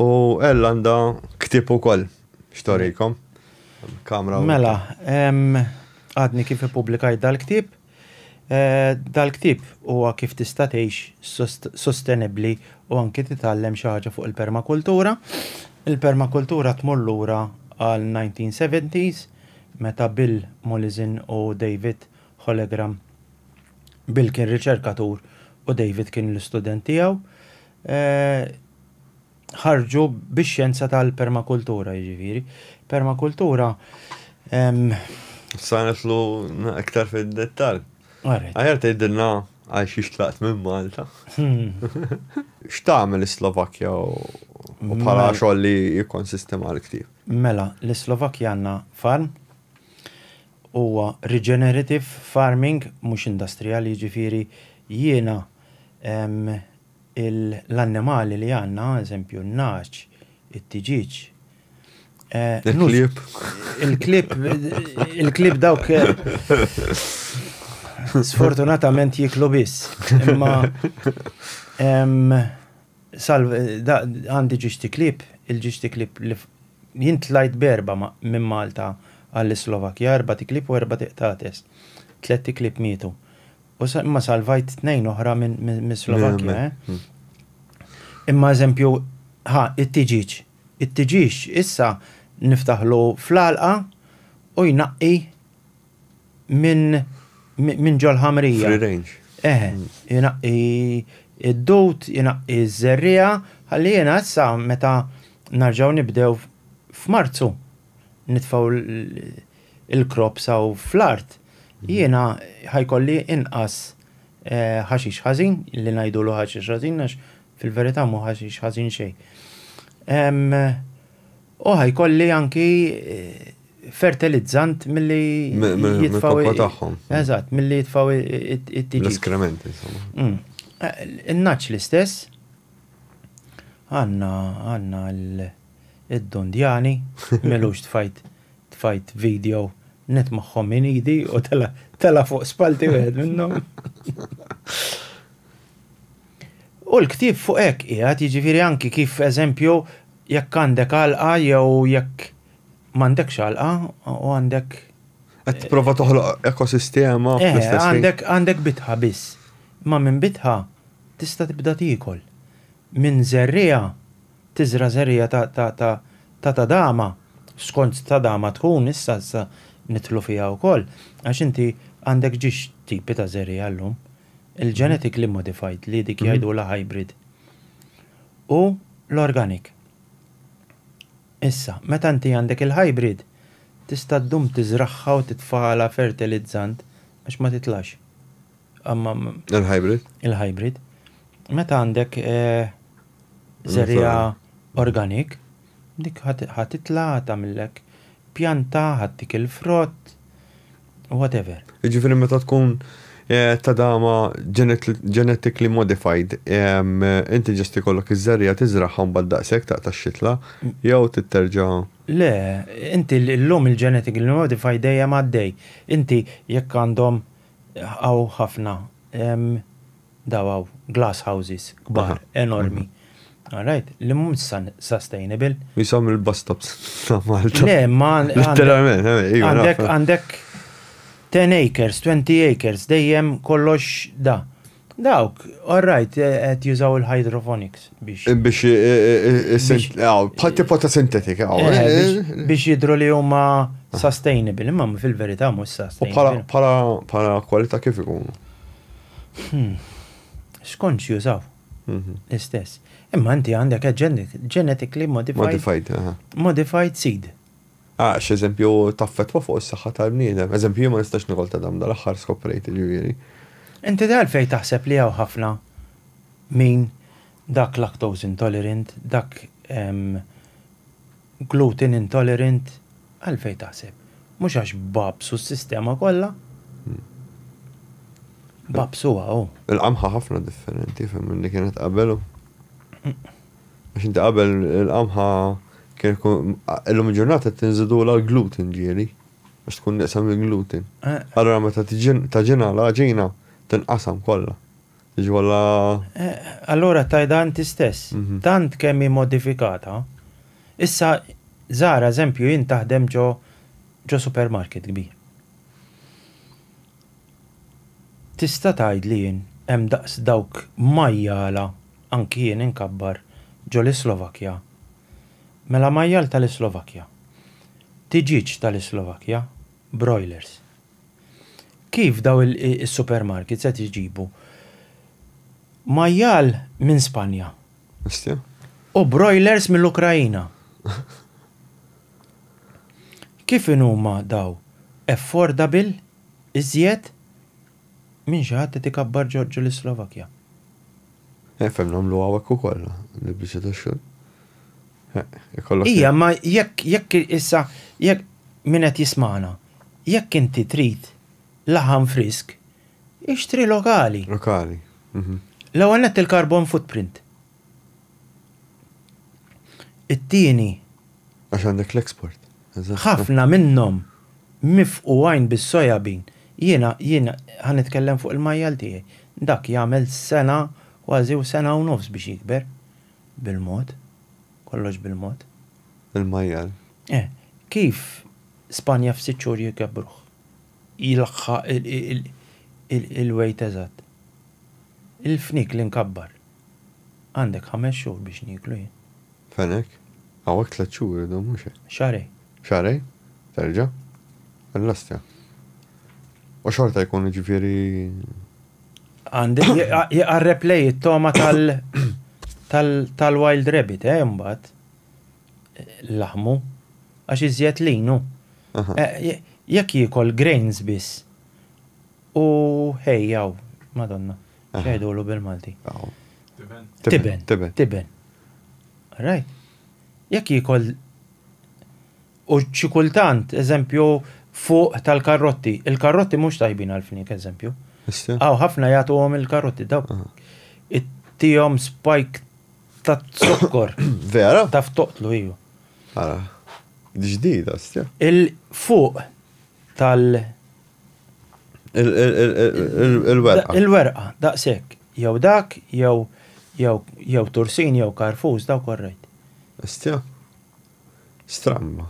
U Ella għandha ktieb ukoll x'torikom. Kamra. Mela, għadni kif ippubblikajt dal-ktieb. Eh, dal-ktieb huwa kif tista' tgħix sostenibbli u anki titgħallem xi ħaġa fuq il-permakultura. Il-permakultura tmur lura għal 1970s meta Bill Mulizin u David Hollegram. Bill kien riċerkatur u David kien l-istudent tiegħu. ħarġu bix-xjenza tal-permakultura, jiġifieri. Permakultura. Sa nitlu iktar fid-dettall. Aħjar tgħidilna għal xi xtlaqt minn Malta. X'tagħmel is-Slovakkja u bħala xogħol li jikkonsisti mal ktieb? Mela, l-Slovakkja għandna farm huwa regenerative farming mhux industrijali jiġifieri jiena l-annimali li għandna, eżempju, n-nagħaġ, it-tiġieġ. Il-klieb. Il-klieb, il-klieb dawk. Sfortunatament jiklu biss. Imma salv għandi ġiġti klib, il-ġiġti klib li jint lajt berba minn Malta għall-Slovakja, erba ti klib u erba ti qtates. Tletti klib mietu. U imma salvajt tnejn oħra minn Slovakkja, eh? Imma eżempju, ha, it-tiġiġ. It-tiġiġ issa niftaħlu fl-għalqa u jnaqqi minn min ġol-ħamrija. Free range. Eh, jnaqqi id-dut, jnaqqi z-zerrija, għalli jena issa meta narġaw nibdew f'Marzu nitfaw il-crops hawn fl-art, jiena ħa jkolli inqas ħaxix ħażin, li ngħidulu ħaxix ħażin għax fil-verità mhu ħaxix ħażin xejn. U ħa jkolli anki fertilizzant milli jitfaw. Eżatt, milli jitfaw it-tiġi. L-eskrementi, insomma. Mm. In-naċ l-istess, għanna għanna id-Dundjani, m'ilux tfajt tfajt video net magħhom minn idi u tela tela fuq spalti wieħed minnhom. U l-ktib fuq hekk qiegħed jiġifieri anki kif eżempju jekk għandek għalqa jew jekk m'għandekx għalqa u għandek Qed prova toħloq ekosistema eh, fl-istess. Għandek għandek bitħa biss. Ma minn bitħa tista' tibda tiekol. Minn zerrija Tiżra' żerriegħa ta' ta' ta' ta' tadama, skont tadama tkun, issa issa nidħlu fiha wkoll, għax inti għandek ġiex tipi ta' żerriegħa llum, il-genetically modified li dik jgħidulha hybrid, u l-organic. Issa, meta inti għandek il-hybrid, tista' ddum tiżragħha u titfagħalha fertilizzant għax ma titlax. Il-hybrid. Il-hybrid. Meta għandek eh, zerja organik, dik ħatitla tagħmillek pjanta, ħattik il-frott, whatever. Ġifieri meta tkun Eh, ta' dama genetically modified, inti ġesti kollok iż-żerja tiżraħħom bad daqsek ta' ta' xitla, jew titterġa. Le, inti l-lum il-genetically modified dejjem għaddej. Inti jekk għandhom Hawn ħafna, hemm dawn hawn, glass houses, kbar, enormi, alright, li mhumiex sustainable. Qishom il-bus stops ta' Malta. Le, ma. Literalment, iva. Għandek 10 acres, 20 acres, dejjem kollox da. Dawk, all right, qed jużaw il-hydroponics biex. Biex bħal tipo ta' sintetika. Eh, eh, biex jidru li huma sustainable, imma fil-verità mhux sustainable. U bħala kwalità kif ikunu? Hmm. X'kontx jużaw? Mhm. L-istess. Imma inti għandek genetically modified. Modified, Modified seed. Għax, eżempju, taffettwa fuq is-saħħa tal-bniedem. Eżempju, jien ma nistax nikol ta' dam, dal-aħħar skoprejt, jiġifieri. Inti għalfejn taħseb li hawn ħafna min dak lactose intolerant, dak gluten intolerant, għalfejn taħseb? Mhux għax bagħbsu s-sistema kollha? Bagħbsuha hu. Il-qamħa ħafna differenti, fehmni, li kienet qabel hu. Għax inti qabel il-qamħa kien ikun, illum il-ġurnata tinżidulha l-gluten ġieli, għax tkun nieqsa mill-gluten. Allura meta taġinha l-għaġina tinqasam kollha. Jiġi kollha. Allura tgħidha inti stess, tant kemm hi modifikata, issa Zara eżempju jien taħdem ġo supermarket kbir. Tista' tgħid li jien hemm daqs dawk majjala anki jien inkabbar ġo l-Islovakkja. Mela majjal ta' l-Islovakkja. Tiġieġ ta' l-Islovakkja, broilers. Kif daw is-supermarkets qed iġibu majjal minn Spanja. Bestia. U broilers mill-Ukraina. Kif inhuma daw affordable iżjed minn xi ħadd qed ikabbar Ġorġu lis-Slovakkja. Nifhem nagħmlu hawnhekk ukoll l-biċċa tax-xogħol. Ikollok. Ija, ma jekk jekk issa jekk min qed jismana, jekk inti trid laħam frisk, ixtri lokali. Lokali. Mhm. L-ewwel nett il-carbon footprint. It-tieni. Għax għandek l-export. Ħafna minnhom mifqu għajn bis-soja bean. Jiena, jien ħa nitkellem fuq il-majjal tiegħi. Dak jagħmel sena kważi u sena u nofs biex jikber. Bil-mod. Kollox bil-mod. Il-majjal. Eh. Kif Spanja f'sitt xhur jkebbruh? jlaħħaq il-weight eżatt. Il-fniek li nkabbar għandek ħames xhur biex nieklu jien. Fenek, hawnhekk tliet xhur idum mhux hekk? Xahrejn. Xahrejn? Terġa'? Allastja. U xorta jkun jiġifieri. Għandi jqarreb lej it-togħma tal-wild rabbit, eh, imbagħad. laħmu, għax iżjed lin hu. Jekk jiekol grains biss u hay hawn, Madonna, x'jgħidulu bil-Malti? Tiben. Tiben. Tiben. Right? Jekk jiekol u xi kultant, eżempju, fuq tal-karrotti, il-karrotti mhux tajbin għall-fniek, eżempju. Aw ħafna jagħtuhom il-karrotti, dawk ittihom spike Ta' zokkor. Vera? Ta' ftoqtlu, iju. Ara. Ġdida, stja. Il-fuq tal. Il-werqa. Il-werqa, daqsek. Jew dak, jew jew tursin, jew karfus, daw korrejt. Stja. Stramma.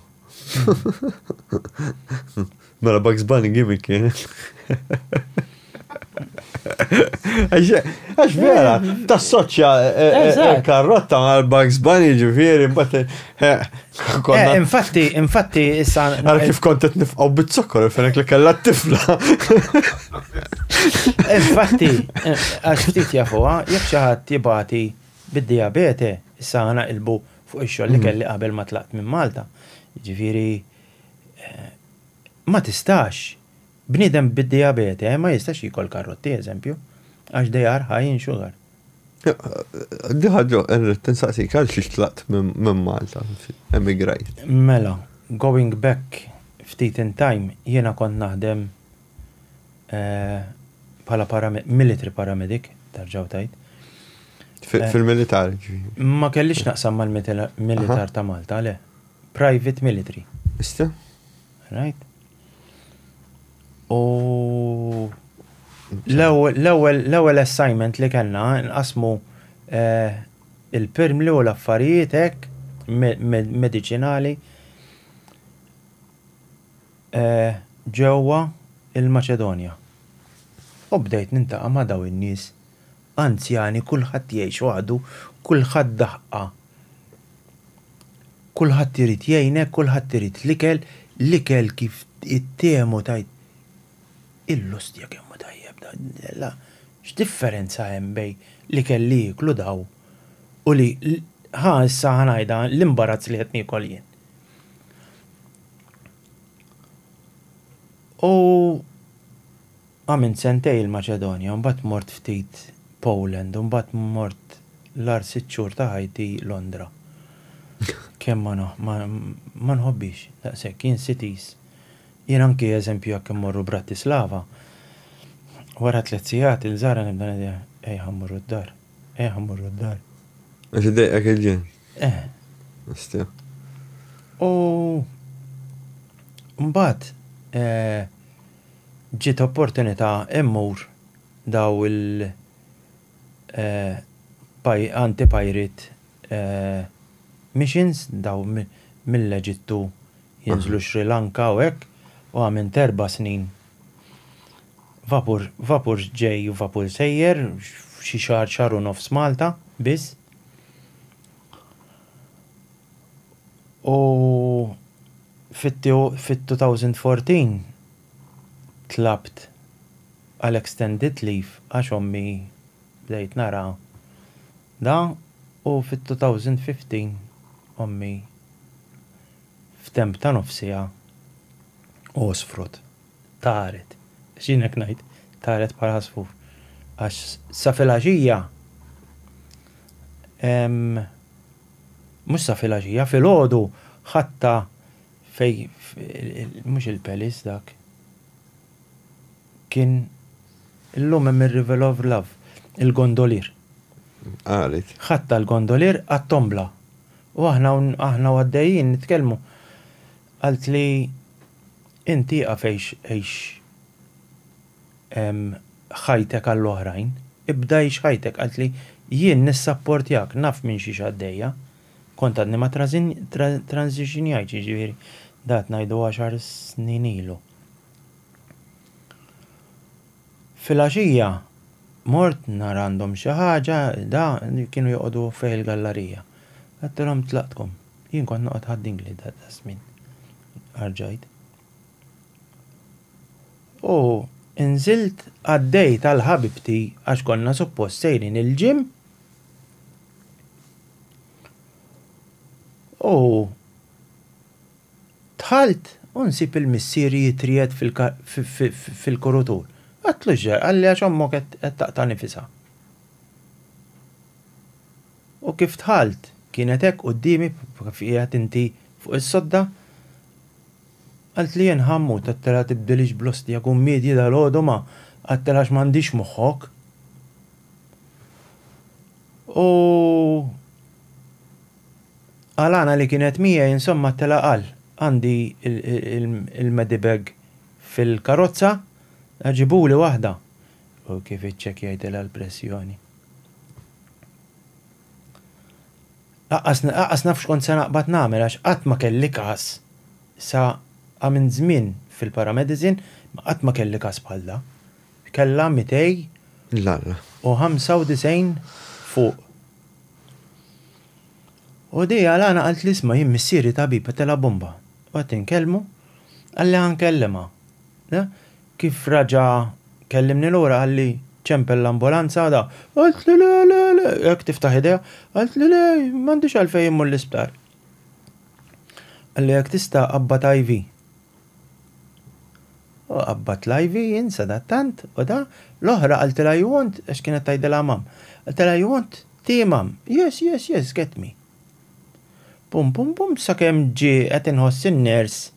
Mela Bugs Bunny gimmick kien. Għax vera, ta' soċja eh, eh, karrotta ma' Bugs Bunny ġifiri, bat. Eh, infatti, infatti, issa. Għara kif kontet nifqaw bit-zokkor, fenek li kella t-tifla. Infatti, għax ftit jafuha, jek xaħat jibati bid-diabete, issa għana ilbu fuq ix-xogħol li kelli qabel ma tlaqt minn Malta. Jiġifieri ma tistax bniedem bid-dijabete ma jistax jiekol karrotti eżempju għax they are high in sugar. Di ħaġa rrid tinsaqsik għal xiex tlaqt minn Malta, emigrajt. Mela, going back ftit in time jiena kont naħdem bħala paramedic, military paramedic, tarġaw tajt. Fil-militar? Ma kellix naqsam mal-militar ta' Malta, le. Private military. Ista? Right? U l-ewwel assignment li kellna nqasmu eh, il-pirmli u l-affarijiet hekk mediċinali. ġewwa l-Maċedonja u bdejt nintaqa' ma' dawn in-nies anzjani kulħadd jgħix waħdu, kulħadd daħqa, kulħadd irid jgħinek, kulħadd irid l-ikel, l-ikel kif ittehmu tgħid, il-lustja kemm hu tajjeb dan, x'differenza hemm bejn l-ikel li jieklu dawn u li, ħa issa ħa ngħidha, l-imbarazz li qed niekol jien. U għamilt sentejn il-Maċedonja, u mbagħad mort ftit Poland, u mbagħad mort l-agħar sitt xhur ta' ħajti Londra. Kemm ma nħobbix daqshekk, jien cities. Jien anki eżempju jekk immorru Bratislava, wara tliet sigħat il-żgħira nibda ngħidilha, ejja ħa mmorru d-dar, ejja ħa mmorru d-dar. Għax id-dejqek il-ġenn. Eh. Nistja. U mbagħad eh, ġiet opportunità immur daw il- eh, anti-pirate eh, missions daw mill-Eġittu jinżlu Sri Lanka u hekk u għamilt erba' snin. Vapur, vapur ġej u vapur sejjer, xi xahar, xahar u nofs Malta biss. U fit-2014 tlabt għal extended leave għax ommi bdejt nara dan u fit-2015 ommi f'temp ta' nofsiha għosfrot. taret, x'jien hekk ngħid, taret bħal għasfur, għax sa filgħaxija, mhux sa filgħaxija, filgħodu ħadtha fejn mhux il-Palace dak, kien illum hemm ir-River of Love, il-gondolier. Qalet. Ħadtha l-gondolier għat-tombla. U aħna aħna għaddejjin nitkellmu. Qaltli, Int ieqaf għix għix ħajtek għall-oħrajn, ibda għix ħajtek. Qaltli, Jien nissapportjak, naf minn xiex għaddejja. Kont għadni ma transitionjajtx, jiġifieri dat ngħidu għaxar snin ilu. Filgħaxija mort nhar għandhom xi ħaġa, da, kienu joqogħdu fih il-gallarija. Għedtilhom tlaqtkom. Jien kont noqgħod ħad-dingli daqsmin. Arġajt. U nżilt għaddejt għal ħabibti għax konna suppost sejrin il-ġim. U tħalt u nsib il-missieri jitriet fil-kurutur. Għatlu ġar, għalli għax ommok qed taqta' nifisha. U kif dħalt, kienet hekk quddiemi bħal kif qiegħed inti fuq is-sodda. Qaltli jien, Ħammu, tattela tibdilix bl-ostja kummiedji dalgħodu ma qattela għax m'għandix moħħok. U Alana li kienet miegħi insomma tela qal, Għandi il-medibag fil-karozza, ġibuli waħda. u kif iċċekkjajtilha l-pressjoni. Laqqas laqqas naf x'kont se naqbad nagħmel għax qatt ma kelli każ sa minn żmien fil-paramedicine ma qatt ma kelli każ bħal da. Kellha 200 L-Alla. u 95 fuq. U di għal għana qalt li isma' jien missieri tabib qed telha bomba. U qed inkellmu, qalli ħa nkellimha. Kif raġa' kellimni lura qalli, Ċempel l-ambulanza għada. Qaltlu le, le, le, hekk tiftaħ idejha. Qaltlu le, m'għandix għalfejn immur l-isptar. Qalli jekk tista' qabbad IV. U qabbadt l-IV, jien sadattant, u da. L-oħra qaltilha you want, għax kienet tgħidilha Mom. Qaltilha you want tea Mom? Yes, yes, yes, get me. Pum, pum, pum, sakemm ġie qed inħoss in-nurse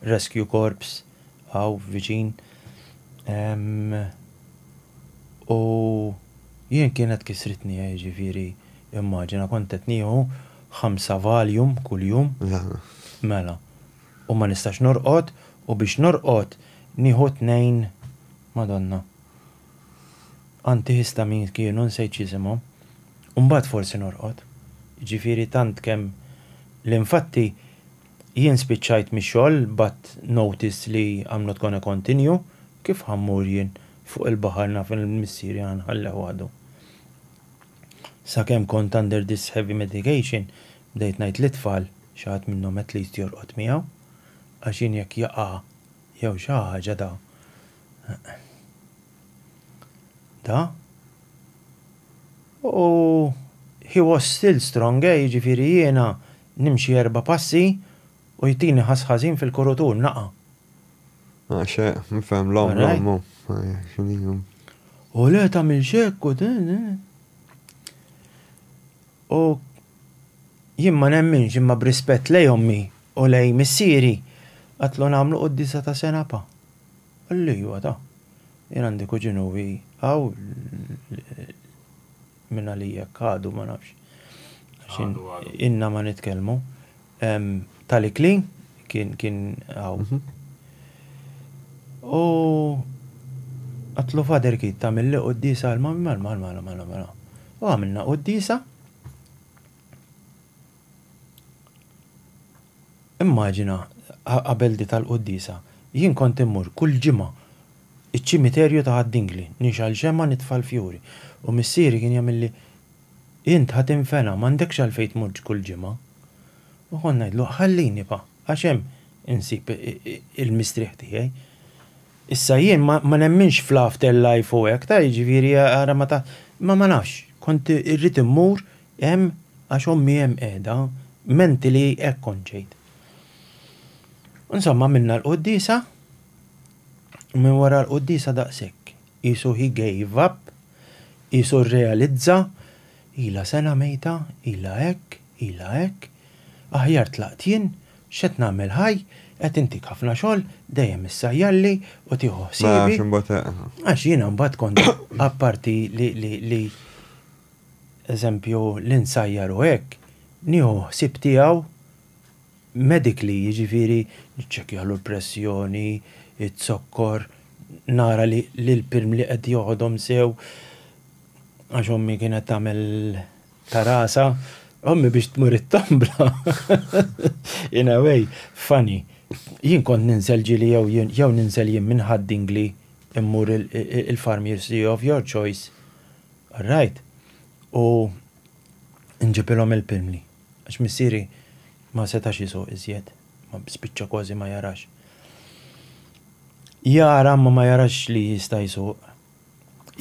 Rescue Corps hawn viċin u jien kienet kisritni jiġifieri immaġina kont qed nieħu ħamsa Valium kuljum mela u ma nistax norqod u biex norqod nieħu tnejn Madonna antihistamines kienu nsejt x'isimhom u mbagħad forsi norqod jiġifieri tant kemm l-infatti Jien spiċċajt mix-xogħol bgħatt notice li I'm not gonna continue, kif ħa mmur jien fuq il-baħar naf li missieri ħa nħalleh waħdu. Sakemm kont under this heavy medication bdejt ngħid lit-tfal, xi ħadd minnhom at least jorqod miegħu, għax jien jekk jaqa' jew xi ħaġa da. Da? U he was still strong, eh, jiġifieri jiena nimxi erba' passi u jtini ħass ħażin fil-kurut u naqa'. Ah, xe, nifhem l-omm, l-omm, xiniju. U le tagħmilx hekk u din. U jien ma nemminx imma b'rispett lej ommi u lej missieri qatlu nagħmlu quddisa ta' senapa. Li huwa ta'. Jien għandi kuġin u hi hawn minn għalih jekk għadu ma nafx. Inna ma nitkellmu. Tali Klin kien kien hawn. Mhm. U għatlu fader kit ta' mill-li qoddisa għal-mamma għal-mamma għal-mamma għal-mamma. U għamilna qoddisa. Immaġina, qabel dik għall-quddiesa, jien kont immur kull ġimgħa iċ-ċimiterju ta' Ħad-Dingli, nixgħal xemgħa nitfa' l-fjuri, u missieri kien jagħmilli, Int ħa tinfena, m'għandekx għalfejn tmurx kull ġimgħa. U kont ngħidlu, Ħallini nibqa', għax hemm insib il-mistrieħ tiegħi. Issa jien ma nemminx fl-afterlife u hekk, ta' jiġifieri ara ma ta' imma ma nafx, kont irrid immur Hemm għax ommi hemm qiegħda, menti li hekk kont ġejt. Insomma għamilna l-quddiesa u minn wara l-quddiesa daqshekk. Qisu he gave up, qisu rrealizza, ilha sena mejta, ilha hekk, ilha hekk, aħjar tlaqt jien, x'qed nagħmel ħaj, qed intik ħafna xogħol, dejjem issajjarli u tieħu ħsiebi. Għax jiena mbagħad kont apparti li eżempju li nsajjar u hekk, nieħu ħsieb tiegħu medically, jiġifieri niċċekkjalu l-pressjoni, iz-zokkor, nara li l-pirm li qed joħodhom sew għax ommi kienet tagħmel ta' rasha, ommi biex tmur it-tombla, in a way, funny, jien kont ninżel ġieli jew jien jew ninżel jien minn Ħad-Dingli mmur il-farmier's tea of your choice, Rajt, u nġibilhom il-pilmli, għax missieri ma setax isuq iżjed, spiċċa kważi ma jarax. Jara imma ma jarax li jista' jsuq.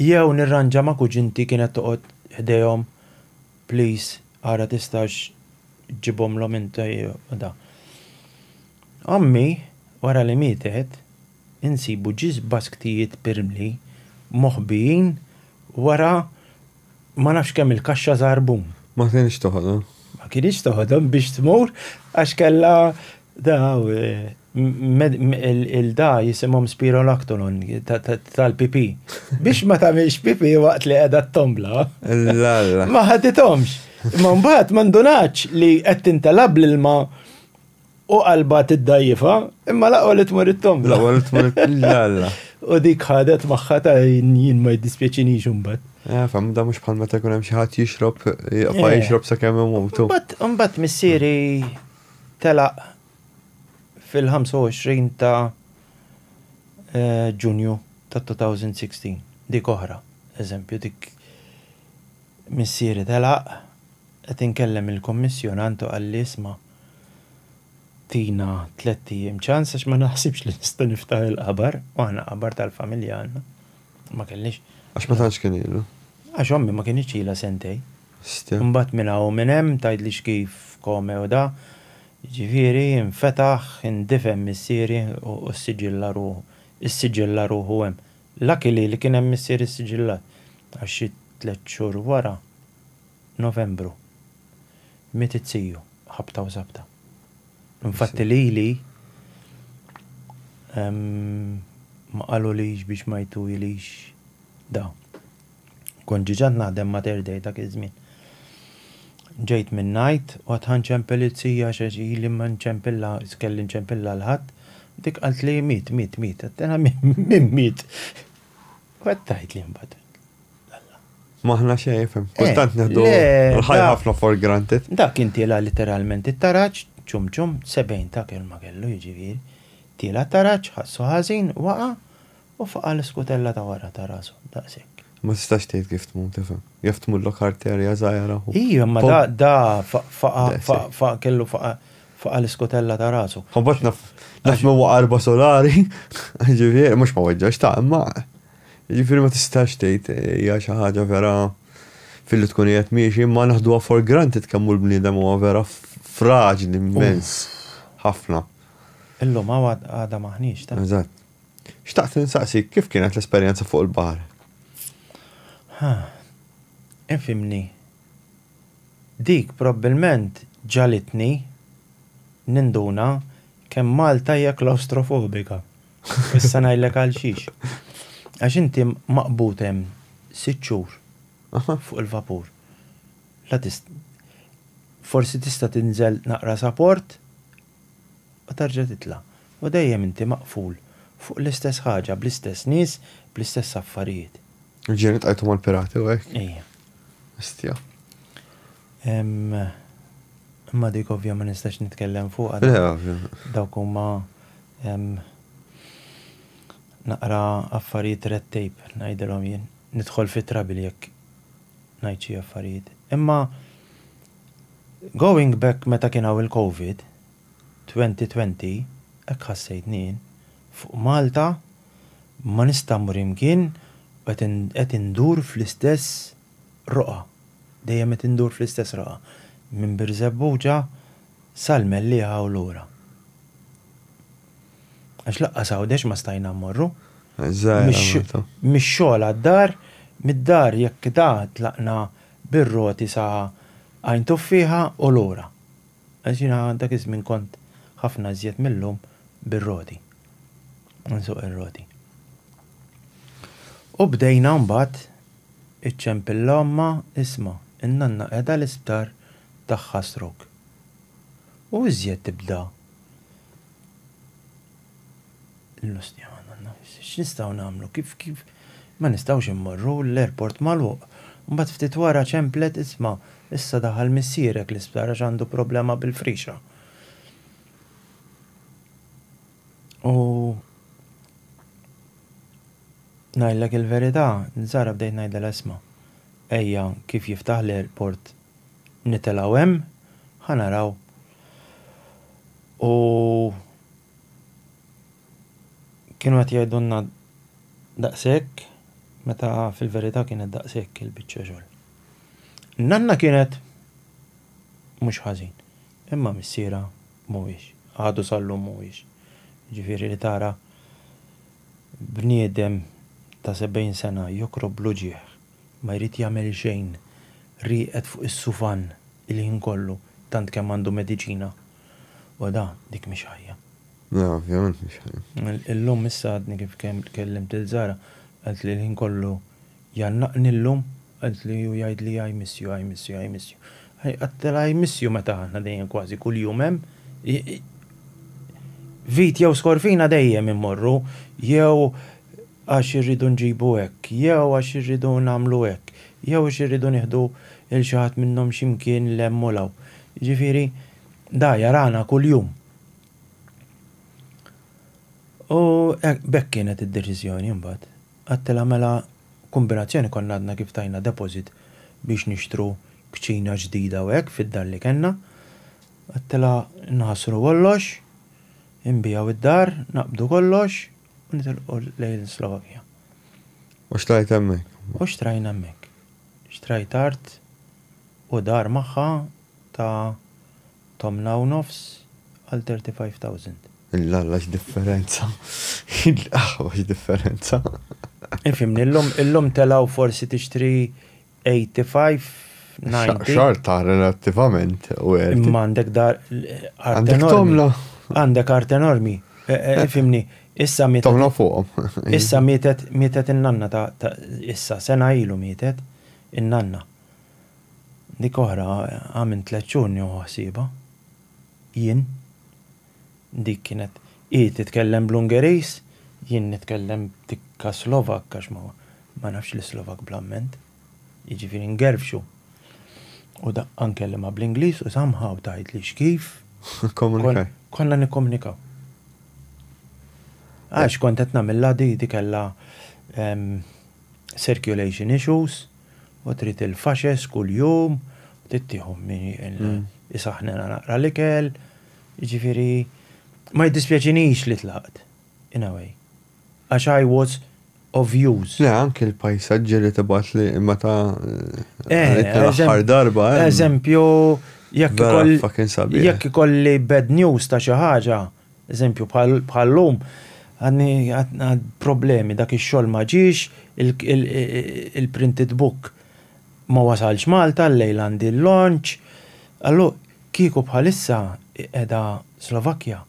Jew nirranġa ma' kuġinti kienet toqgħod ħdejhom, please, ara tistax ġġibhomlhom inti u da. Ommi, wara li mietet, insibu ġiż basktijiet b'irmli moħbijin wara ma nafx kemm-il kaxxa żarbun. Ma kinitx toħodhom. Ma kinitx toħodhom biex tmur għax kellha daw il-da jisimhom spirolactolon tal-pipi. Biex ma tagħmilx pipi waqt li qiegħda t-tombla. Ma ħadithomx. Ma mbagħad ma ndunatx li qed tintelab l-ilma U qalba tiddajjifa, imma laqwa li tmur it-tomba. Laqwa li tmur it-tomba. U dik ħadet maħħa ta' jien ma jiddispjaċini xumbat. Eh, fam, da mux bħal meta jkun hemm xi ħadd jixrob, jaqfa eh. jixrob sa kemm imutu. Mbagħad missieri telaq fil-25 ta' eh, Ġunju ta' 2016. Dik oħra, eżempju, dik missieri telaq qed inkellem il-kommissjonantu għall-isma' Tina tliet ijiem ċans għax ma naħsibx li nista' niftaħ il-qabar, u aħna qabar tal-familja għandna. Ma kellniex. Għax ma tantx kien ilu. Għax ommi ma kinitx ilha sentejn. Stja. Imbagħad minn hawn u minn hemm tgħidlix kif come u da, jiġifieri infetaħ, indifen missieri u ssiġilla ruħu. Issiġilla ruħu hemm. Luckily li kien hemm missieri ssiġillat għax xi tliet xhur wara. Novembru, miet it-tiju, ħabta u żabta. Infatti lili ma qalulix biex ma jtujlix da. Kont ġiġant naħdem ma' Third Day dak iż-żmien. Ġejt minn ngħid u għad ħa nċempel it-tija għax ili ma nċempilha, kelli nċempilha l-Ħadd, dik qaltli miet, miet, miet. Għedtilha min miet? U għedt tgħidli mbagħad. Maħna xejn jifhem. Eh, Kultant neħdu le, l-ħajja da- ħafna for granted. Dak kien tila literalment it-taraġ, ċum ċum, 70 ta' kelma kellu jiġifieri. Tila taraġ, ħassu ħażin, waqa' u faqa' l-iskutella ta' wara ta' rasu, daqshekk. Ma tistax tgħid kif tmur tifhem. Jaf tmullok arterja żgħira. u- Ija, ma da, da fa- faqa, Daqshekk. faqa, faqa, kellu faqa, faqa l-iskutella ta' rasu. Kombat naf, naf ma waqa arba solari, ġifieri, mhux ma weġġax ta' imma. Jiġifieri ma tistax tgħid hija xi ħaġa vera filli tkun qiegħed miexi, imma naħduha for granted kemm hu l-bniedem huwa vera fraġli immens ħafna. Illum hawn għadha m'aħniex ta'. Eżatt. Xtaqt insaqsik kif kienet l-esperjenza fuq il-baħar? Ha. Infimni. Dik probbilment ġalitni ninduna kemm Malta hija klawstrofobika. Issa ngħidlek għal xiex. Għax inti maqbud hemm sitt xhur fuq il-vapur. La tist forsi tista' tinżel naqra sa port u terġa' titla'. U dejjem inti maqful fuq l-istess ħaġa, bl-istess nies, bl-istess affarijiet. Ġieli tqajtu mal-pirati u hekk? Ejja. Hestja. Imma dik ovvja ma nistax nitkellem fuqha. Le, ovvja. Dawk huma naqra affarijiet red tape ngħidilhom jien. Nidħol fi trouble jekk ngħid xi affarijiet. Imma going back meta kien hawn il-Covid, 2020, hekk ħassejtni jien. Fuq Malta ma nista' mmur imkien u qed indur fl-istess Roqgħa, dejjem qed indur fl-istess roqgħa, minn Birżebbuġa sal-Mellieħa u lura. Għax lanqas Għawdex ma stajna mmorru. Mix-xogħol għad-dar, mid-dar jekk da tlaqna bir-roti sa Għajn Tuffieħa u lura. Għax jiena dak iż-żmien kont ħafna iżjed mil-lum bir-roti. Nsuq ir-roti. U bdejna mbagħad. Iċċempillha ommha, Isma', in-nanna qiegħda l-isptar, tagħha stroke. U iżjed tibda l-lustjana, nanna, x'nistgħu nagħmlu, kif, kif, ma nistgħux immorru, l-airport magħluq. Mbagħad ftit wara ċemplet, Isma', issa daħal missierek l-isptar għax għandu problema bil-frixa. U. Ngħidlek il-verità, żgħira bdejt ngħidlha l-esma', ejja kif jiftaħ l-airport nitelgħu hemm, ħa naraw. U kienu qed jgħidulna daqshekk meta fil-verità kienet daqshekk il-biċċa xogħol. Nanna kienet mhux ħażin, imma missierha mhuwiex, għadu sal-lum mhuwiex. Jiġifieri li tara Bniedem ta' 70 sena jokrob bl-uġigħ, ma jrid jagħmel xejn, rieqed fuq is-sufann il-ħin kollu tant kemm għandu mediċina. Oda, dik mhix ħajja. Le, ovvjament mhix ħajja. Illum issa għadni kif kellimt lil Zara, qaltli l-ħin kollu Jgħannaqni llum? Għedtli u jgħidli I miss you, I miss you, I miss you. I għattela I miss you meta aħna dejjem kważi kuljum hemm. Vit jew Skorfina dejjem immorru jew għax irridu nġibu hekk, jew għax irridu nagħmlu hekk, jew għax irridu nieħdu lil xi ħadd minnhom xi mkien 'l hemm u 'l hawn. Jiġifieri da jarana kuljum. U b'hekk kienet id-deċiżjoni mbagħad. Għadtilha mela kombinazzjoni konna għadna kif tajna deposit biex nixtru kċina ġdida u hekk fid-dar li kellna. Għadtilha nħassru kollox, inbigħu id-dar, naqbdu kollox u nitilqu lejn Slovakia. U xtrajt hemmhekk? U xtrajna hemmhekk. Xtrajt art u dar magħha ta' tmna u nofs għal 35,000. Illalla x'differenza! Illqahwa x'differenza! Ifhimni, illum illum telgħu forsi tixtri 85, 90. Xorta relattivament worth it. Imma għandek dar art enormi. Għandek tmna. Għandek art enormi. Ifhimni, issa mietet. Tmna fuqhom. Issa mietet mietet in-nanna ta' issa sena ilu mietet in-nanna. Dik oħra, ha minn tliet xhur nieħu ħsiebha. Jien. Dik kienet hi titkellem bl-Ungeriż, jien nitkellem tikka Slovak għax ma, ma nafx l-Islovak bl-amment. Jiġifieri ngerfxu. U daqqa nkellimha bl-Ingliż u somehow tgħidli x'kif. Kkomunikaw. Konna nikkomunikaw. Għax kont qed nagħmilha di, di kellha circulation issues. u trid il-faxes kuljum, u trid tieħu min isaħnena naqra l-ikel, ġifiri, ma jiddispjaċinix li tlaqt, in a way. Għax I was of use. Le, anki l-pajsaġġi li tibat li meta eh, l-aħħar darba. Eh. Eżempju, jekk ikolli bad news ta' xi ħaġa, Eżempju, bħal-lum għadni għad problemi, dak ix-xogħol ma ġiex, il-printed book ma wasalx Malta, llejla għandi l-launch, allu kieku bħalissa qiegħda Slovakkja,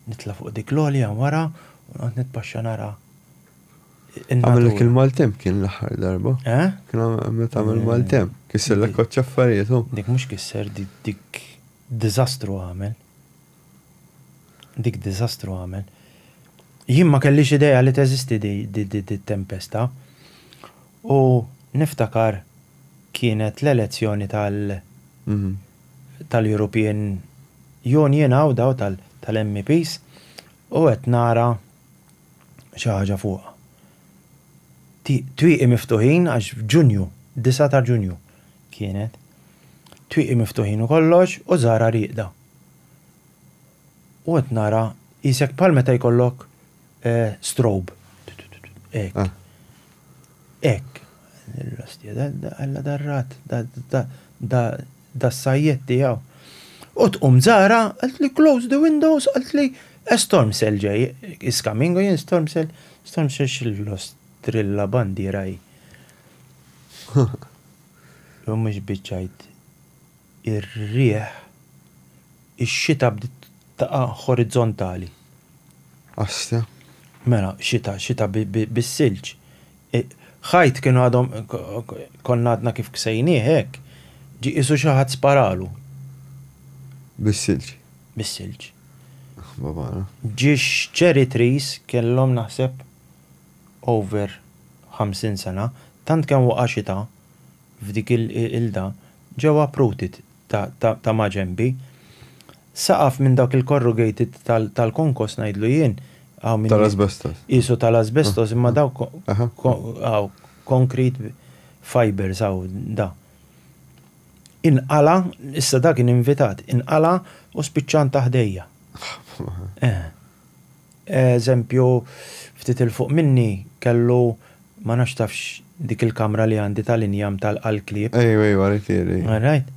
nitla' fuq dik l-għolja wara u noqgħod nitpaxxa nara in-natura. Għamillek il-maltemp kien l-aħħar darba? Eh? Kien għamillek il-maltemp, kissellek koċċ affarijiet. Dik mhux kisser, dik Diżastru għamel. Dik diżastru għamel. Jien ma kellix idea li teżisti dit-tempesta u niftakar kienet l-elezzjoni tal tal-European Union hawn daw tal-MEPs u qed nara xi ħaġa fuqha. Twieqi miftuħin għax f'Ġunju, 9 ta' Ġunju. kienet. Twieqi miftuħin u kollox u żgħarha rieqda. U qed nara qisek bħal meta jkollok eh, strobe. Ek. Ah. Ek. Alla darrat, da sajjet tijaw. U tqum zara, għalt li close the windows, għalt li a storm cell ġej, is coming, u jen storm cell, storm cell xillos trilla bandira Mhumiex biċ għid. Ir-riħ, ix-xita bdiet taqa' ħoriżontali. Asja. Mela, xita, xita bis-silġ. Ħajt kien għadhom konna għadna kif ksejnieh hekk, ġie qisu xi ħadd sparalu. Bis-silġ. Bis-silġ. Aħ, babana. Ġiex cherry trees kellhom naħseb over 50 sena, tant kemm waqa' xita f'dik il-qilda, ġew uprooted ta' maġenbi. Saqaf minn dawk il-corrugated tal-konkos ngħidlu jien, hawn min qisu tal-asbestos imma dawk hawn concrete fibres hawn da. Inqala', issa da kien invitat, inqala' u spiċċa nta' ħdejja. Eħe. Eżempju ftit 'il fuq minni kellu, ma nafx tafx dik il-kamra li għandi tal-injam tal-qalklieb. Ejwa, ejwa, ritieri. Alright.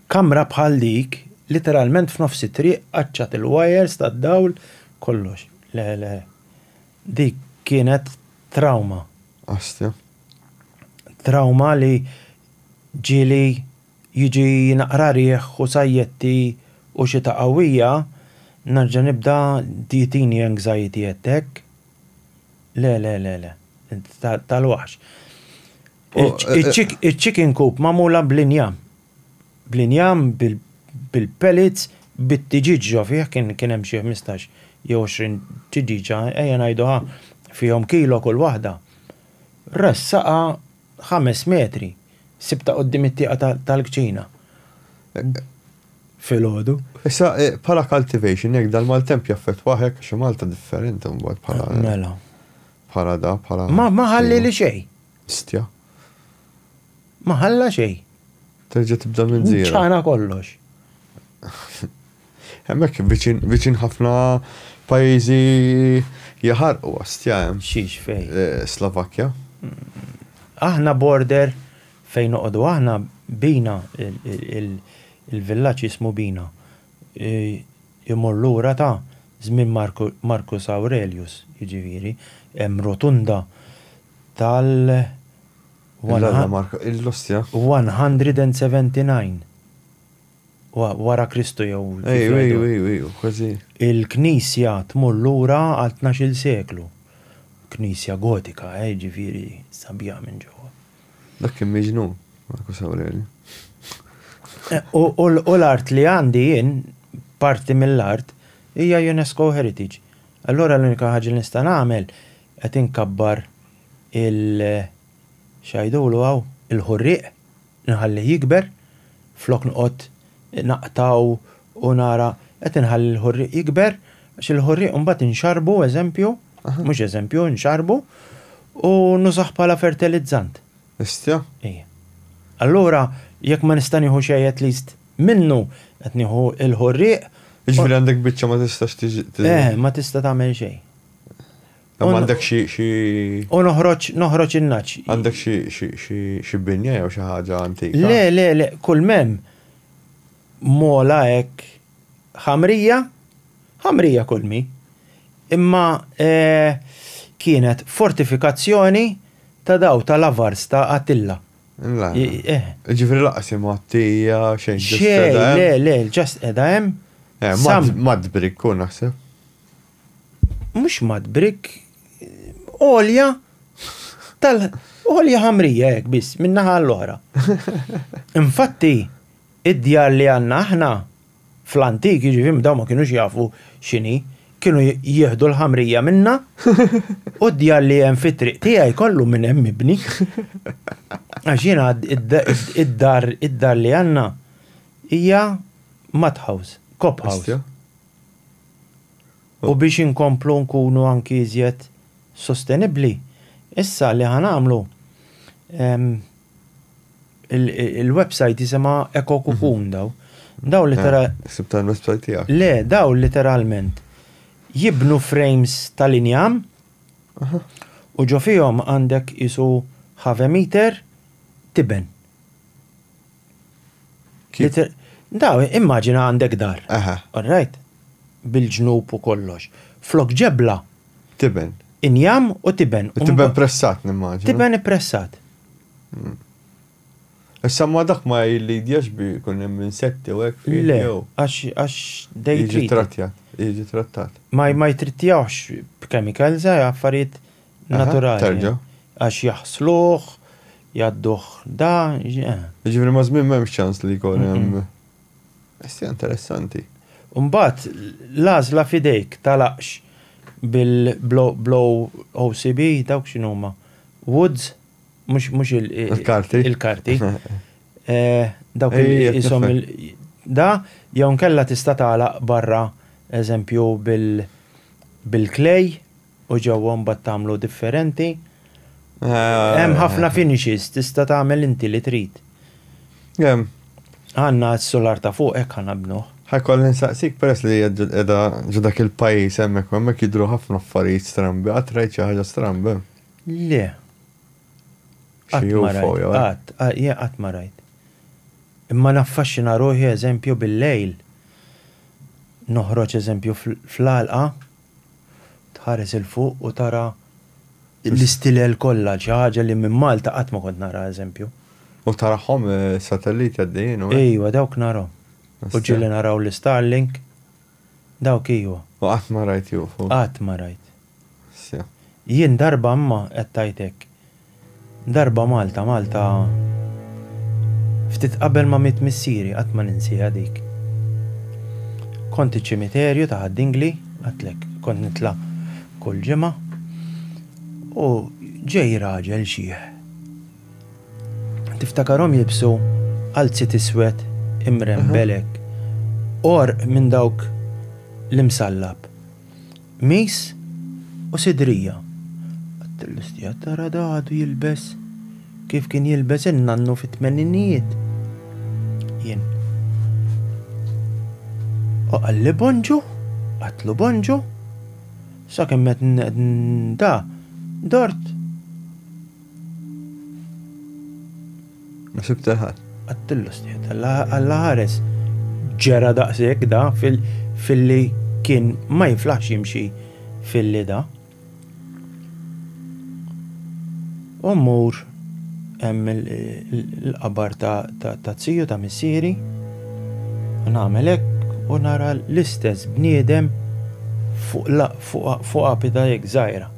Kamra bħal dik, literalment f'nofs it-triq, qaċċat il-wires tad-dawl, kollox. Le, le. Dik kienet trawma. Astja. Trawma li ġieli Jiġi naqra riħ u sajjetti u xita qawwija, nerġa' nibda tjietini anxiety attack. Le, le, le, le. Tal-waħx. Iċ-chicken coop magħmula bl-injam. Bl-injam, bil-pellets, bit-tiġieġ ġo fih, kien hemm xi ħmistax jew għoxrin tiġieġa, ejja ngħidu ha, fihom kilo kull waħda. Ressaqha. ħames metri, sibt ta' quddiem it-tieqa tal-kċina filgħodu. Issa, bħala cultivation, jekk dal-maltemp jaffettwah hekk għax Malta differenti mbagħad bħala. Mela. Bħala da, bħala. Ma ħallieli xejn. Stja. Ma ħalla xejn. Terġa' tibda minn zero. Ċana kollox. Hemmhekk viċin ħafna pajjiżi jaħarqu għastja hemm. Xiex fejn? Eh, Slovakkja. Aħna border fejn noqogħdu aħna bina il-villaġġ jismu bina. Imur lura ta' żmien Marcus Aurelius, jiġifieri, hemm rotunda tal- L-Alla marka l-ostja. 179 Wara Kristu jew. Ejju, ejju, ejju, ejju, kważi. Il-Knisja tmur lura għal tnax-il seklu. Knisja Gotika, eh, jiġifieri sabiħa minn ġewwa. Dak kien miġnun, Marcus Aureliu. U l-art li għandi jien, parti mill-art, hija UNESCO Heritage. Allura l-unika ħaġa li nista' nagħmel qed inkabbar il, x'għidulu hawn, il-ħurrieq, inħallih jikber, flok noqgħod naqtgħu u nara, qed inħalli l-ħurrieq jikber, għax il-ħurrieq imbagħad inxarrbu, eżempju, mhux eżempju, inxarrbu, u nużah bħala fertilizzant. Histja? Ejja. Allura, jekk ma nista' nieħu xejn at least minnu, qed nieħu l-ħurrieq. Jiġifieri għandek biċċa ma tistax tiġi. Eh, ma tista' tagħmel xejn. Għandek xi xi. U noħroġ noħroġ in-naċ. Għandek xi xi xi xi binja jew xi ħaġa antika. Le, le, le, kull mem mola hekk ħamrija, ħamrija kull mi. Imma eh, kienet fortifikazzjoni ta' daw tal-avars ta' Attilla. La. I- eh. Ġifri laqas imma għattija xejn. just Xej, edha hemm. le, le, ġast edha hemm. Eh, Sam. mad- Madbri kun naħseb. Mhux mat brick għolja tal għolja ħamrija hekk biss min-naħa l-oħra. Infatti, id-djar li għandna aħna fl-antik, jiġifieri dawn ma kinux jafu x'inhi, kienu jieħdu l-ħamrija minnha u d-djar li hemm fit-triq tiegħi kollu minn hemm mibni. Għax jiena id-dar id-dar li għandna hija mud house, cob house. U biex inkomplu nkunu anki iżjed sostenibbli, issa li ħa nagħmlu il-website jisimha Eco Cocoon daw. Daw literalment. Sib tal-website tiegħek. Le, daw literalment jibnu frames tal-injam u ġo fihom għandek isu ħave meter tiben. Daw, immaġina għandek dar. Aha. All right? Bil-ġnub u kollox. Flok ġebla. Tiben. Injam u tiben. U tiben pressat, nimmaġina. Tiben ippressat. Hmm. Issa ma dak ma jillidjax bi kun hemm insetti u hekk fih. Le, għax dejjem. Jiġi trattjat, jiġi trattat. Ma ma jtrittjawx b'chemicals, eh, affarijiet naturali. Terġa'. Għax jaħsluh, jgħadduh da. Ġifieri ma' żmien m'hemmx ċans li jkun hemm. Issa interessanti. Mbagħad l-għażla f'idejk tal-għaqx bil-OCB dawk x'inhuma? Woods? Mhux il-karti. Il-karti. Dawk ishom da jew inkella tista' tagħlaq barra eżempju bil-klej. U ġewwa mbagħad tagħmlu differenti. Hemm ħafna finishes tista' tagħmel inti li trid. Hemm. Għandna s-sular ta' fuq hekk ħa nabnuh. Ħajkolli nsaqsik peress li hija qiegħda ġo dak il-pajjiż hemmhekk u hemmhekk jidhru ħafna affarijiet strambi, qatt rajt xi ħaġa stramba hemm? Le. Qatt ma rajt. Xi UFO jew hekk? Qatt, jien qatt ma rajt. Imma naffaxxina ruħi eżempju bil-lejl noħroġ eżempju fl-għalqa. Tħares 'il fuq u tara l-istilel kollha, xi ħaġa li minn Malta qatt ma kont nara eżempju. U tarahom is-satelliti għaddejjin u hekk? Ejwa, dawk narahom. U ġieli naraw l-Starlink, dawk ejwa. U qatt ma rajt UFO? Qatt ma rajt. Jien darba imma, qed tgħid hekk, Darba Malta, Malta Ftit qabel ma miet missieri, qatt ma ninsieha dik. Kont iċ-ċimiterju ta' Ħad-Dingli, għedtlek, kont nitla' kull ġimgħa, u ġej raġel xiħ. Tiftakarhom jilbsu qalziet iswed imrembel hekk, għorq minn dawk l-imsallab. Qmis u sidrija. Għat-tellistija tara da għadu jilbes kif kien jilbes in-nannu fit-tmeninijiet. Jien. U qalli bonġu, għatlu bonġu, sa kemm qed da dort Ma sibt il-ħadd. Għattillu stjed, Alla ħares ġera daqshekk da fil-li kien ma jiflaħx jimxi fil-li da. U mmur hemm l-qabar ta' ziju ta' missieri, nagħmel hekk u nara l-istess bniedem fuq apida hekk żgħira.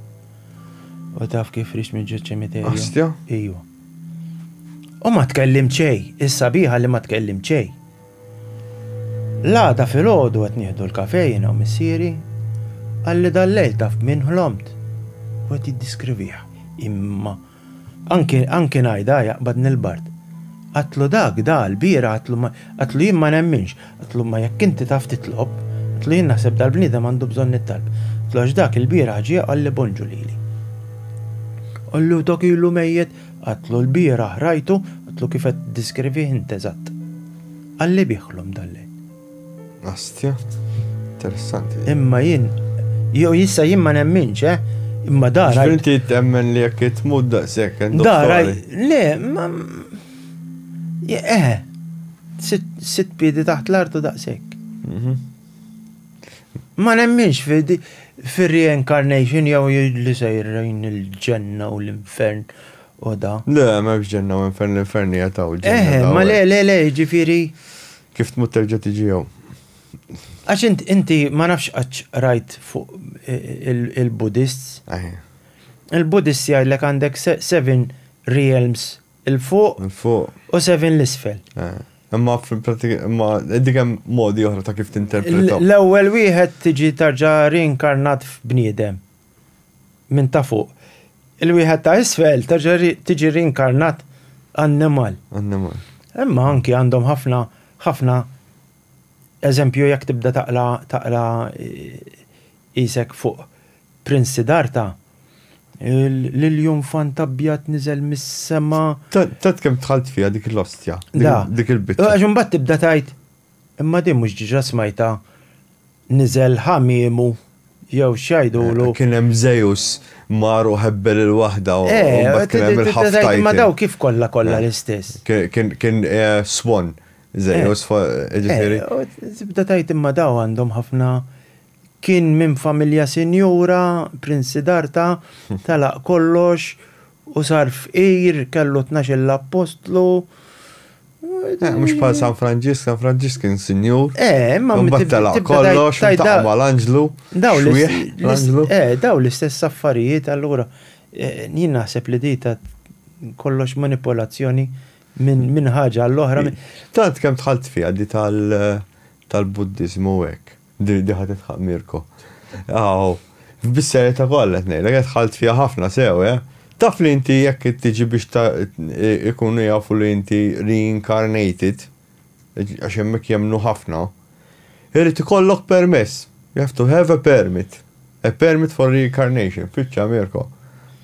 U taf kif rixt minn ġiet ċimiterju? Astja? Iju. U ma tkellimt xejn, is-sabiħa li ma tkellimt xejn. L-għada filgħodu qed nieħdu l-kafè jiena u missieri, qalli dal-lejl taf b'min ħlomt u qed jiddiskrivih. Imma anki anki ngħidha jaqbadni l-bard. Għatlu dak da l-bieraħ għatlu jien ma nemminx. Qtlu imma jekk inti taf titlob, qtlu jien naħseb dal-bniedem għandu bżonn it-talb. Qtlu għax dak il-bieraħ ġie qalli bonġu lili. Qallu dak ilu mejjet, qtlu l-bieraħ rajtu, qtlu kif qed tiddiskrivih int eżatt. Qalli biħlom dal-lejl. Astja, interessanti. Imma jien, jew jissa jien ma nemminx, eh? Imma dara. Inti temmen li jekk tmut daqshekk. Dara, le, ma Eħe, sitt piedi taħt l-artu daqshekk. Mhm. Ma nemminx fir-reincarnation jew li sejrin il-ġenna u l-infern u da. Le, ma biex ġenna u infern l-infern jataw ġenna. Eħe, ma le, le, le, ġifiri. Kif tmut terġa tiġi jew? Għax inti ma nafx għax rajt fuq il-Buddhists. Il-Buddhists jgħidlek għandek seven realms il-fuq. Il-fuq. U seven l-isfel. Eh, imma fil-pratika, imma dik hemm modi oħra ta' kif tinterpretaw. L-ewwel wieħed tiġi tarġa' reinkarnat f'bniedem minn ta' fuq. Il-wieħed ta' isfel tarġa' tiġi reinkarnat annimal. Annimal. Imma anki għandhom ħafna ħafna eżempju jekk tibda taqla taqla eh, isek fuq Prince Siddhartha, l-ilju nfant abjad niżel mis-sema. Tat kemm tħalt fiha dik l-ostja, dik il-biċċa. Għax imbagħad tibda tgħid, imma din mhux diġà smajtha niżel ħamiemu jew x'jgħidulu. Kien hemm Żejus mar u ħebbel il-waħda u mbagħad kien hemm il-ħaftajn. Imma daw kif kollha kollha l-istess. Kien swan Żejus ġifieri. Tibda tgħid imma daw għandhom ħafna Kien minn familja sinjura, Prince Siddhartha telaq kollox u sar fqir, kellu tnax-il appostlu. Eh, mhux bħal San Franġisk, San Franġisk kien sinjur. Eh, ma mbagħad telaq kollox, tajda mal-anġlu. Daw l-anġlu. Eh, daw l-istess affarijiet allura eh, jien naħseb li dita kollox manipolazzjoni minn ħaġa għall-oħra. Tant kemm tħalt fiha di tal-Buddiżmu hekk. Di di ħadd itħaq Mirko. Aw, f'bis-serjetà kollha qed ngħidlek, qed ħalt fiha ħafna sew, eh? Taf li inti jekk tiġi biex ta' ikunu jafu li inti reincarnated, għax hemmhekk jemmnu ħafna, irid ikollok permess. You have to have a permit. A permit for reincarnation. Fittxa Mirko.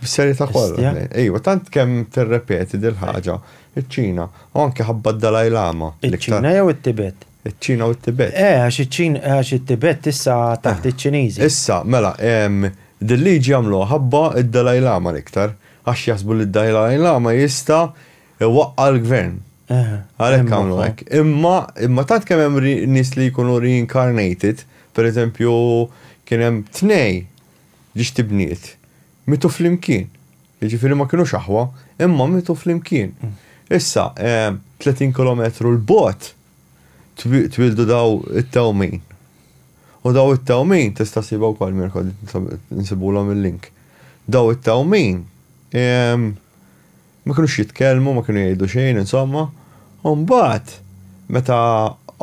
Fis-serjetà kollha. Istja? qed ngħid. Ejwa, tant kemm tirrepeti dil-ħaġa, iċ-Ċina, u anke ħabba d-Dalai Lama. l-iktar- Iċ-Ċina jew it-Tibet? Iċ-Ċina u t-Tibet. Eh, għax iċ-Ċina, għax it-Tibet issa taħt iċ-Ċiniżi. Issa, mela, din liġi għamluha ħabba d-Dalai Lama l-iktar, għax jaħsbu li d-Dalai Lama jista' iwaqqa' l-gvern. Għalhekk għamlu hekk. Imma, imma tant kemm hemm nies li jkunu reincarnated, pereżempju, kien hemm tnej ġiex tibniet. Mietu flimkien. Jiġifieri ma kinux aħwa, imma mietu flimkien. Issa, 30 kilometru 'l bogħod twieldu dawn it-tewmin. U dawn it-tewmin, tista' ssibha wkoll Mirko, nsibulhom il-link. Dawn it-tewmin Ma kinux jitkellmu, ma kienu jgħidu xejn, insomma. U mbagħad meta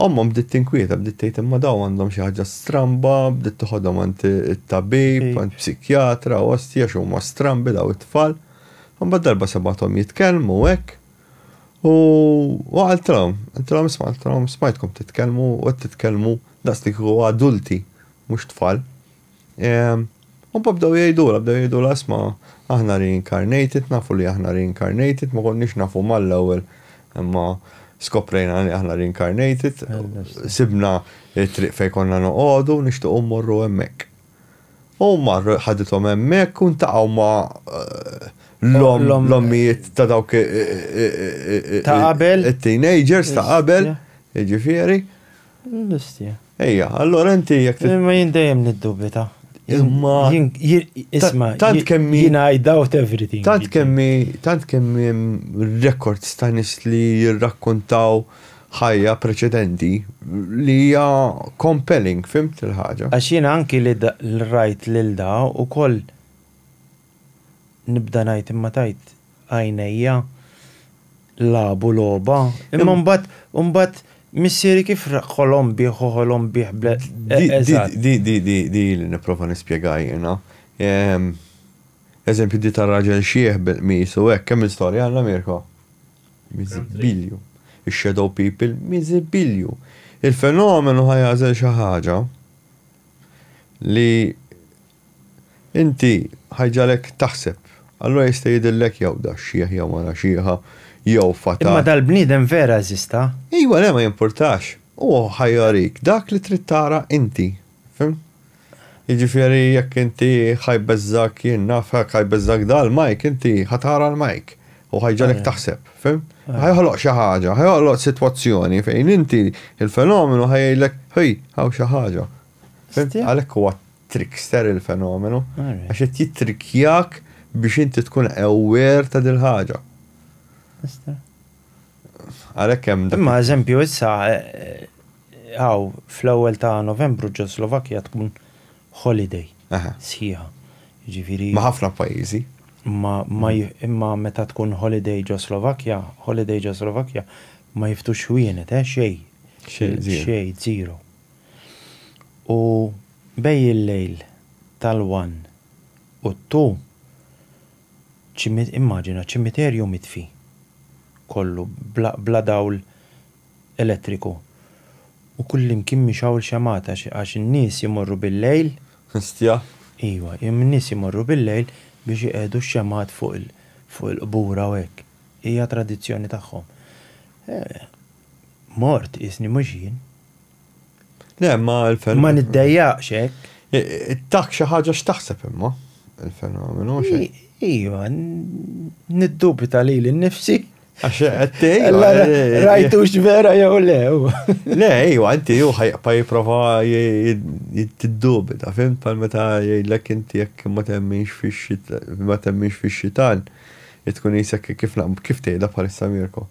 ommhom bdiet tinkwieta, bdiet tgħid imma dawn għandhom xi ħaġa stramba, bdiet toħodhom għand it-tabib, għand psikjatra, ostja x'huma strambi dawn it-tfal. Imbagħad darba sebgħathom jitkellmu hekk u qaltilhom, qaltilhom isma' qaltilhom smajtkom titkellmu u qed titkellmu daqs li kieku adulti mhux tfal. U pa bdew jgħidula, bdew jgħidula asma, aħna reincarnated, nafu li aħna reincarnated, ma konniex nafu mal-ewwel imma skoprejna li aħna reincarnated, sibna it-triq fejn konna noqogħdu nixtiequ mmorru hemmhekk. U marru ħadithom hemmhekk u ntaqgħu ma eh, l-ommijiet ta' dawk eh, eh, ta' qabel it-teenagers ta' qabel, jiġifieri. L-istja. Ejja, allora inti jek. Ma jindajem niddubita. Imma. Isma, tant kemmi. Jina I doubt everything. Tant kemmi, tant kemmi records ta' nis li jirrakkontaw ħajja preċedenti li hija compelling, fimt il-ħaġa. Għax jina anki li l-rajt lil da u koll nibda ngħid imma tajt għajnejja lagħbu logħba imma mbagħad mbagħad missieri kif ħolom bih hu ħolom bih bl Di di di di li nipprova nispjega jiena. Eżempju di tar-raġel xiħ bil-qmis u hekk kemm il-storja għandna Mirko? Miżibilju. Ix-shadow people miżibilju. Il-fenomenu ħa jagħżel xi ħaġa li Inti ħajġagħlek taħseb. Allura jista' jidhirlek jew da xxiħ jew mara xieħa, jew fata. Imma dal-bniedem vera eżista? Ejwa le ma jimpurtax. Hu ħajjorik dak li trid tara inti. Fhimt? Jiġifieri jekk inti ħajbeżżgħek jien naf hekk ħajbeżżgħek da l-mike inti ħa tara l-mike. Hu ħajġagħlek taħseb. Fhimt? Ħajoħloq xi ħaġa, ħajoħloq sitwazzjoni fejn inti l-fenomenu ħa jgħidlek, Ħej, hawn xi ħaġa. Fhimt? Għalhekk huwa trickster il-fenomenu, għax qed jittrikkjak biex inti tkun aware ta' dil-ħaġa. Għalhekk hemm dak. Imma eżempju issa hawn eh, fl-ewwel ta' Novembru ġo Slovakkja tkun holiday sħiħa. Ġifieri. Ma' ħafna pajjiżi. Ma imma meta tkun holiday ġo Slovakkja, holiday ġo Slovakkja ma jiftux xwienet, eh xejn. Xejn zero. U bejn il-lejl tal-one u t-two, immaġina ċimiterju mitfi kollu, bla dawl elettriku. U kullimkien mixgħul xemgħat għax in-nies imorru bil-lejl. Histja! Iva, in-nies imorru bil-lejl biex iqiegħdu x-xemgħat fuq il-qbur hawn hekk. Hija tradizzjoni tagħhom. Mort qisni mhux jien. Le, ma l-fenomenu. Ma niddejjaqx hekk. Ittak xi ħaġa x'taħseb imma il-fenomenu xejn. Iva, niddubita li l-nifsi. Għax għattej. Rajtu vera jew le. Le, iva, inti ju ħajqpa jiprofa jittiddubita, fim pal meta jgħidlek inti jekk ma temminx fix-xitan, ma temminx fix-xitan, jitkun jisek kif tgħidha bħalissa Mirko.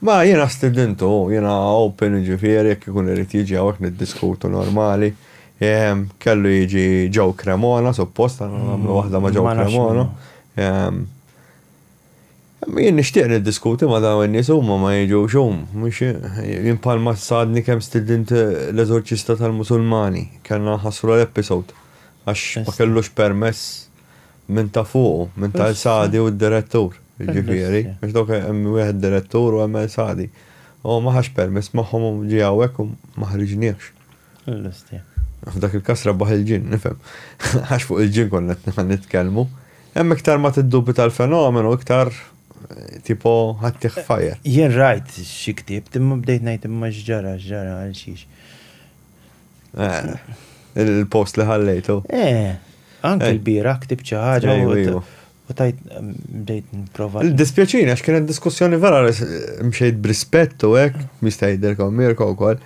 Ma jiena stidintu, jiena open jiġifieri jekk ikun irid jiġi hawnhekk niddiskutu normali. Kellu jiġi Joe Cremona suppost għandna nagħmlu waħda ma' Joe Cremona. Jien nixtieq niddiskuti ma' dawn in-nies huma ma jiġux hum. Jien bħalma sadni kemm stidint l-eżorċista tal-Musulmani, kellna nħassru l-episode għax ma kellux permess. Minn ta' fuqu, minn ta' El Sadi u d-direttur, jiġifieri, għax dawk hemm wieħed direttur u hemm El Sadi. Huwa ma ħax permess magħhom u ġie hawnhekk u ma ħriġniehx. Il-Lustie. F'dak il-każ rebbaħ il-ġinn, nifhem. Għax fuq il-ġinn konna qed nitkellmu. Hemm iktar ma tiddubita l-fenomenu iktar tipo ħaddtih f'fire. Jien rajt xi ktibt imma bdejt ngħid imma x'ġara, x'ġara, għal xiex. Eh, il-post li ħallejtu. Eh, anke eh. l-bira ktib xi ħaġa eh, u tajt bdejt nipprova. Dispjaċini għax kienet diskussjoni vera mxejt brispett u hekk mista' jidherkom Mirko wkoll.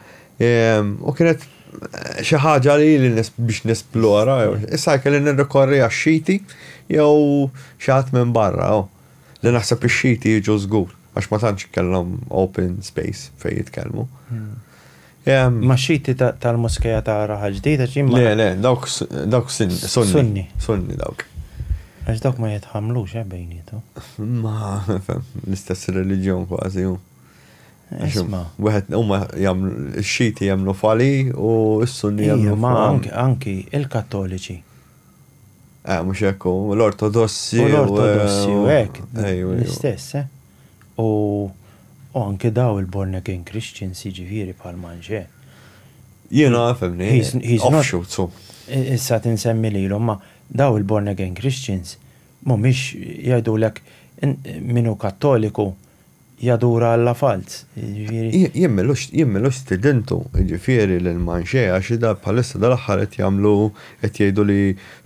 Ehm, u kienet eh, xi ħaġa li li biex nesplora, issa kelli nirrikorri għax-xiti jew xi ħadd minn barra, oh, li naħseb ix-xiti jiġu żgur għax ma tantx kellhom open space fejn jitkellmu. Hmm. Ma xiti tal-Moskeja ta' Raħal Ġdid għax jien. Le, le, dawk dawk Sunni. Sunni dawk. Għax dawk ma jitħammlux eh bejniethom. Ma nifhem, l-istess reliġjon kważi hu. Isma'. Wieħed huma jagħmlu x-Xiti jemmnu f'Ali u s-Sunni jemmnu f'. Iva, ma anki il-Kattoliċi. Eh mhux hekk hu, l-Ortodossi. L-Ortodossi u hekk. L-istess eh. U u anke daw il-born again Christians jiġifieri bħal Manjè. Jiena fehmni. He's he's not offshoot so. Issa tinsemmi lilhom ma daw il-born again Christians mhumiex jgħidulek min hu Kattoliku jadura Alla falz. Jiġifieri. Jien m'ilux jien m'ilux stidintu jiġifieri lil Manjè għax ida bħalissa dal-aħħar qed jagħmlu qed jgħidu li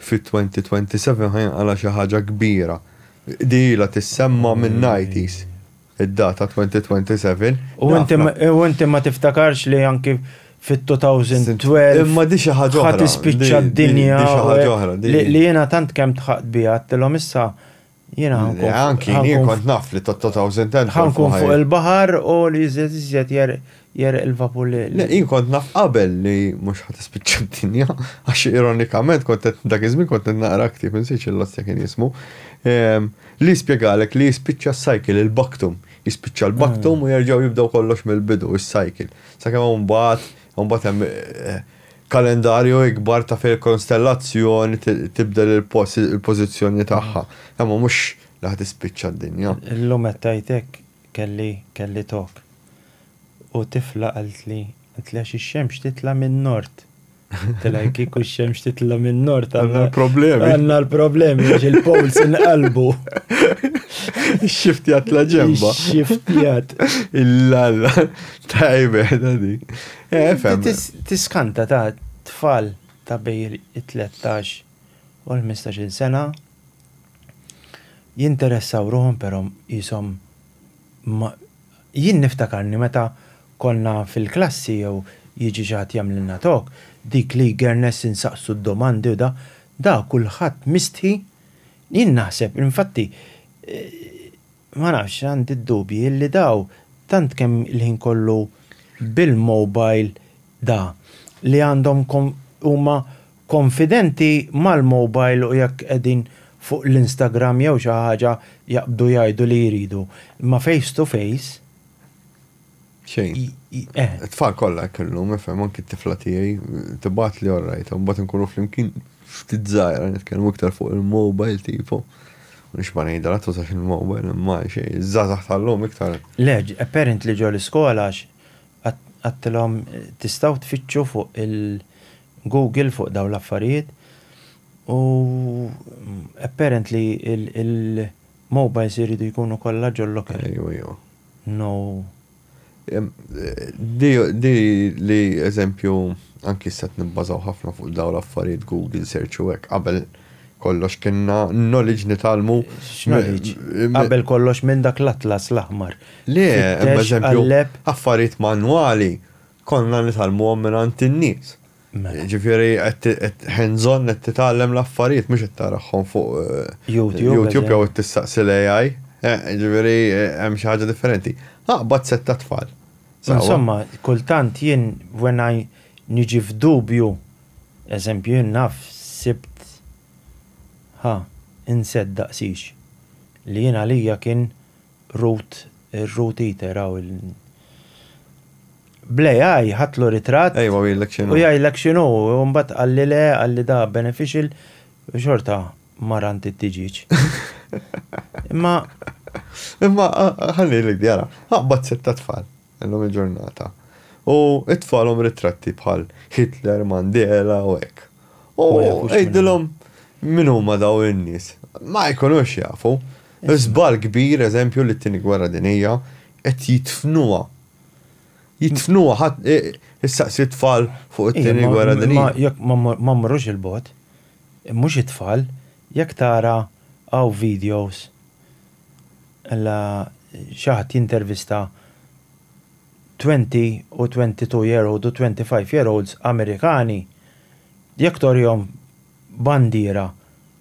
fit-2027 ħa jinqala' xi ħaġa kbira Din ilha tissemma' minn Nighties, id-data 2027. U inti ma tiftakarx li anki fit-2012. Imma di xi ħaġa oħra. Ħa tispiċċa d-dinja. Di xi ħaġa oħra. Li jiena tant kemm tħaqt biha, għedtilhom issa jiena ħa nkun. Anki jien kont naf li t'2012. Ħa nkun fuq il-baħar u li iżjed iżjed jegħreq il-vapur li. Le, jien kont naf qabel li mhux ħa tispiċċa d-dinja, għax ironikament kont qed dak iż-żmien kont qed naqra ktieb insejx il-lostja kien jismu, ehm, li jispjegalek li jispiċċa s-cycle, il-baktum. Jispiċċa l-baktum u jerġgħu jibdew kollox mill-bidu, is-cycle. Sakemm hawn mbagħad, hawn mbagħad hemm eh, kalendarju ikbar ta' fejn konstellazzjoni tibdel il-pożizzjoni tagħha. Imma mhux li ħad ispiċċa d-dinja. Illum qed tgħidek Kelli, kelli togħok. U tifla qaltli, qaltli għax ix-xemx titla' min-Nord. Tilha jekk kieku x-xemx titla' min-Nord għandna l-problemi. Għandna l-problemi għax il-poles inqalbu. Ix-xiftjat tla' ġemba. Ix-xiftjat. Il-lalla. Tajbe, da dik. Eh, fem. Tiskanta ta' tfal ta' bejn it-13 u l-15 sena. jinteressaw ruħhom però qishom ma jien niftakarni meta konna fil-klassi jew jiġi xi ħadd jagħmlilna talk, dik l-eagerness insaqsu d-domandi u da, da kulħadd mistħi, jien naħseb infatti, Ma nafx, għandi d-dubji li daw tant kemm il-ħin kollu bil-mobile da, li għandhom huma konfidenti mal-mobile u jekk qegħdin fuq l-Instagram jew xi ħaġa jaqbdu jgħidu li jridu. Imma face to face? Xejn. Eh. Tfal kollha hekk illum, ifhem anki t-tifla tiegħi tibgħat li orrajt, mbagħad inkunu flimkien ftit żgħira nitkellmu iktar fuq il-mobile tipo. Nix ma ngħidha la tużax il-mobile imma xejn, iż-żgħażagħ tal-lum iktar. Le, apparent li ġol iskola għax għadtilhom tistgħu tfittxu fuq il-Google fuq dawn l-affarijiet u apparent li il-mobiles iridu jkunu kollha ġol-locker. Ejwa, ejwa. Noo. Di li eżempju anki issa qed nibbażaw ħafna fuq dawn l-affarijiet Google search u hekk qabel kollox kienna knowledge nitgħallmu. X'knowledge? Qabel kollox minn dak l-atlas l-aħmar. Le, hemm eżempju affarijiet manwali Konna nitgħallmuhom mingħand in-nies. Jiġifieri qed hands on qed titgħallem l-affarijiet mhux qed taraħħom fuq YouTube jew qed tistaqsi l-AI. Jiġifieri hemm xi ħaġa differenti. Aqbad sett ta' tfal. Insomma, kultant jien when I niġi f'dubju, eżempju jien naf sibt ħa insett daqsix li jien għalija kien Root root eater hawn il Bl-AI ħadtlu ritratt Ejwa u jgħidlek x'inhu. U jgħidlek x'inhu, u mbagħad qalli le, qalli da beneficial, u xorta mar għand it-tiġieġ. Imma. Imma ħalli ngħidlek di ara, aqbad sett ta' tfal illum il-ġurnata u itfagħlhom ritratti bħal Hitler, Mandela u hekk. U għidilhom min huma dawn in-nies. Ma jkunux jafu. Żball kbir eżempju li t-Tieni Gwerra Dinjija qed jidfnuha. Jidfnuha ħadd issaqsi t-tfal fuq it-Tieni Gwerra Dinjija. Jekk ma mmorrux 'il bogħod, mhux it-tfal, jekk tara hawn videos ella xi ħadd jintervista twenty u twenty two year old u twenty five year olds Amerikani, jekk torihom bandiera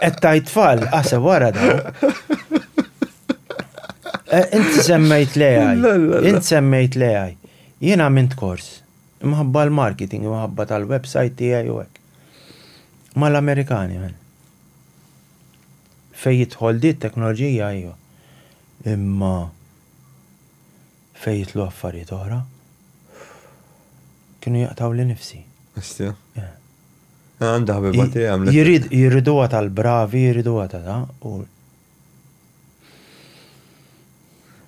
Qed tajt tfal, aħseb wara da. Eh, inti semmejt l-AI. Inti semmejt l-AI. Jiena għamilt kors. Imħabba l-marketing, imħabba tal-website tiegħi u hekk. Mal-Amerikani, man. Fej jidħol di teknoloġija, iju. Imma Fejn jitlu affarijiet oħra. Kienu jaqtgħuli nifsi. Hestja. Eh. Ah, għandha ħbiba tiegħi għamlet. Jirid jiriduha tal-bravi, jiriduha ta' da u.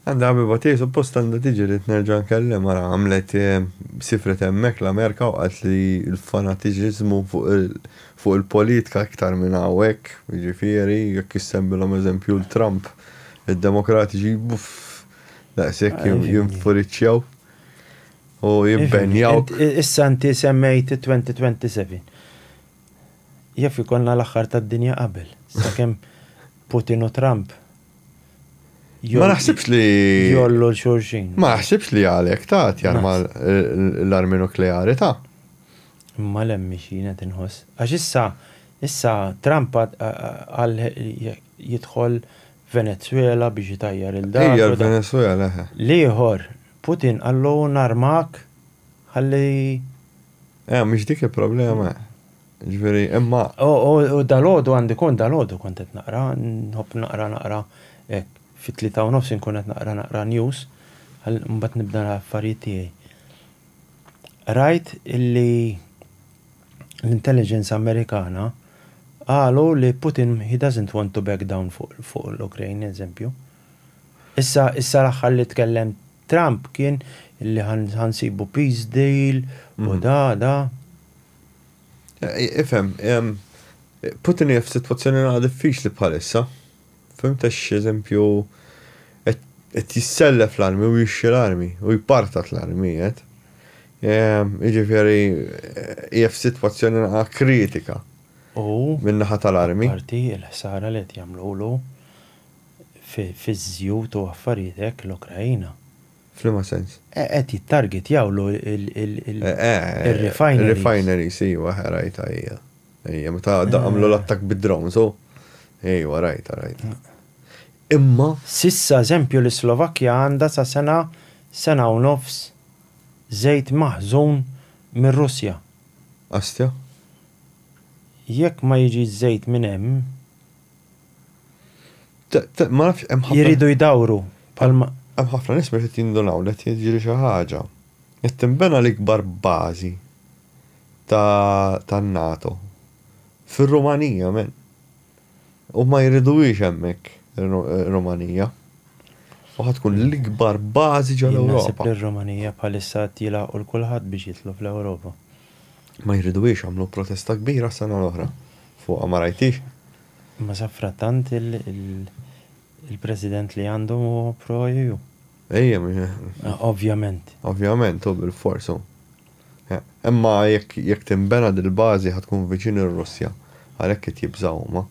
Għandha ħbiba tiegħi suppost għandha tiġi li nerġa' nkellem ara għamlet eh, sifret hemmhekk l-Amerika u qalt li l-fanatiċiżmu fuq il-politika iktar minn hawnhekk, jiġifieri jekk issembilhom eżempju l-Trump id-demokratiċi buff Daqshekk jinfuriċċjaw u jimpenjaw. Issa inti semmejt 2027. Jaf ikonna l-aħħar tad-dinja qabel, sakemm Putin u Trump. Ma naħsibx li. Jollu l-xurxin. Ma naħsibx li għalek ta' jarma l-armi nukleari ta' imma l-emmi xina tinħoss. Għax issa, issa Trump għal jidħol Venezwela biex itajjar il dak. Ejja l-Venezwela eħe. L-ieħor, Putin qallu narmak ħalli. Eh, mhix dik il-problema. Ġifieri, imma. U dalodu għandi kont dalodu kont qed naqra, nħobb naqra naqra hekk fit-tlieta u nofs inkun qed naqra naqra news, mbagħad nibda l-affarijiet tiegħi. Rajt illi l-intelligence Amerikana qalu li Putin he doesn't want to back down fuq l-Ukraine, eżempju. Issa issa l-aħħar li tkellem Trump kien li ħansibu peace deal u mhm. da da. Ifhem, Putin hija f'sitwazzjoni għad diffiċli bħalissa. Fhimt għax eżempju qed qed jissellef l-armi u jixtri l-armi u jpartat l-armijiet. Jiġifieri hija f'sitwazzjoni naqa' kritika min-naħa tal-armi. U apparti l-ħsara li qed jagħmlulu fiż-żjut u affarijiet hekk l-Ukraina. F'liema sens? Qed jittargetjawlu il-refineries. Ir-refineries iva, ħrajtha hija. Ejja, meta għadda għamlu l-attak bid-drone, so. Ejwa, rajt, rajt. Imma. Sissa, eżempju, li Slovakkja għandha sa sena, sena u nofs żejt maħżun mir-Russja. Astja? Jekk ma jiġi żejt minn hemm. Ma nafx hemm ħafna. Jiridu jdawru. Palma. Hemm ħafna nies meta jindunaw li qed jiġri xi ħaġa. Qed tinbena l-ikbar bażi tan-NATO fir-Rumanija men. U ma jriduhiex hemmhekk ir-Rumanija. U ħa tkun l-ikbar bażi ġol Ewropa. Naħseb li r-Rumanija bħalissa qed jilagħqu 'l kulħadd biex jidħlu fl-Ewropa. Ma jriduhiex għamlu protesta kbira s-sena l-oħra fuqha ma rajtix? Imma safrattant il-President li għandhom huwa pro EU. Ejja, Ovvjament. Ovvjament, u bilfors hu. Imma jekk tinbena dil-bażi ħa tkun viċin ir-Russja. Għalhekk qed jibżgħu huma.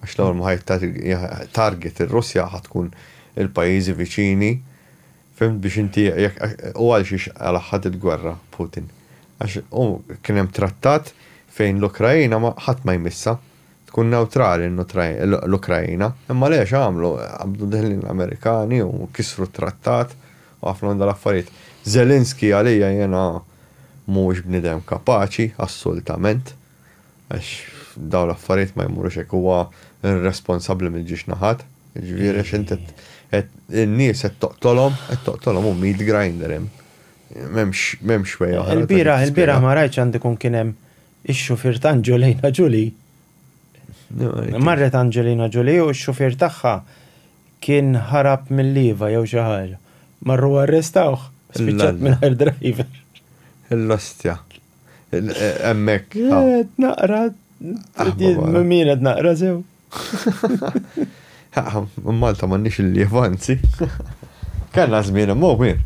Għax l-ewwel ma ħa target ir-Russja ħa tkun il-pajjiżi viċini, fhimt, biex inti jekk u għal xiex laħħad il-gwerra Putin. Għax hu kien hemm trattat fejn l-Ukraina ħadd ma jmissha. Tkun newtrali l-Ukraina. Imma le x'għamlu? Qabdu deħlin l-Amerikani u kisru t-trattat u ħafna minn dal-affarijiet. Zelensky għalija jiena mhuwiex bniedem kapaċi assultament għax dawn l-affarijiet ma jmurux hekk huwa irresponsabbli mill-ġiex naħat. Jiġifieri għax inti qed in-nies qed toqtolhom, qed toqtolhom hu meat grinder hemm. M'hemmx way oħra. Il-bieraħ, il-bieraħ ma rajtx għandu jkun kien hemm Ix-xufier ta' Angelina Jolie. Marret Angelina Jolie u x-xufier tagħha kien ħarab mil-lieva jew xi ħaġa. Marru u arrestawh, spiċċat mingħajr driver. L-ostja. Hemmhekk. Naqra. Min qed naqra sew. Malta m'għandniex il-lief, anzi. Kellna żmien imma wien.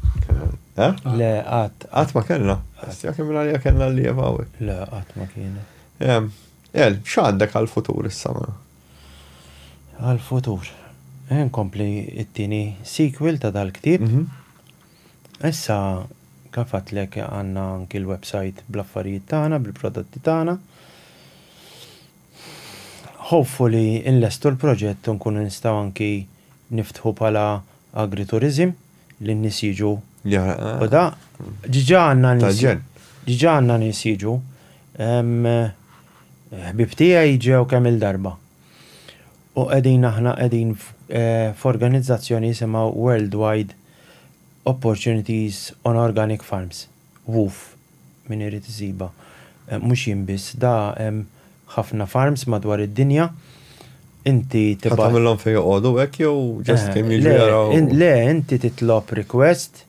Eh? Le, qatt. Qatt ma kellna. Sija kemm għalija kellna l-lief hawnhekk. Le, qatt ma kienu. El, x'għandek għall-futur issa ma? Għall-futur. Nkompli it-tieni sequel ta' dal-ktieb. Mhm. Issa kafatlek għandna anki l-website bl-affarijiet tagħna, bil-prodotti tagħna. Hopefully inlestu l-proġett u nkunu nistgħu anki niftħu bħala agritourism li n-nies jiġu u da. Diġà għandna nies diġà għandna nies jiġu. Ħbieb tiegħi ġew kemm-il darba. U qegħdin aħna qegħdin f'organizzazzjoni jisimha Worldwide Opportunities on Organic Farms. Wuff, min irid isibha. Mhux jien biss, da hemm ħafna farms madwar id-dinja. Inti tibgħat. Ħadd għamilhom fejn joqogħdu hekk jew just kemm jiġu jaraw? Le, le, inti titlob request,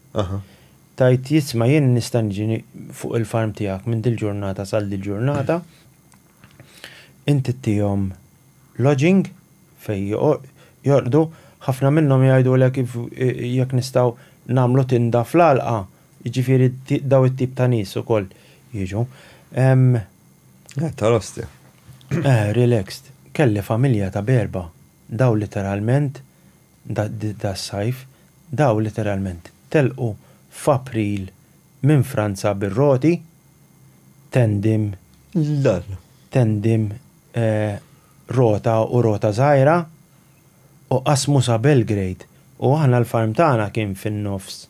tgħid jisma' jien nista' niġi fuq il-farm tiegħek minn dil-ġurnata sal dil-ġurnata. Inti ttihom lodging fejn jorqdu, ħafna minnhom jgħidulek jekk nistgħu nagħmlu tinda fl-għalqa Jiġifieri dawn it-tip ta' nies ukoll jiġu. Qed tara ostia. Eh, relaxed. Kelli familja ta' b'erbgħa. Dawn literalment, das-sajf, dawn literalment telqu f'April minn Franza bir-roti, tandem, tandem, rota u rota żgħira, u qasmu sa Belgrade. U aħna l-farm tagħna kien fin-nofs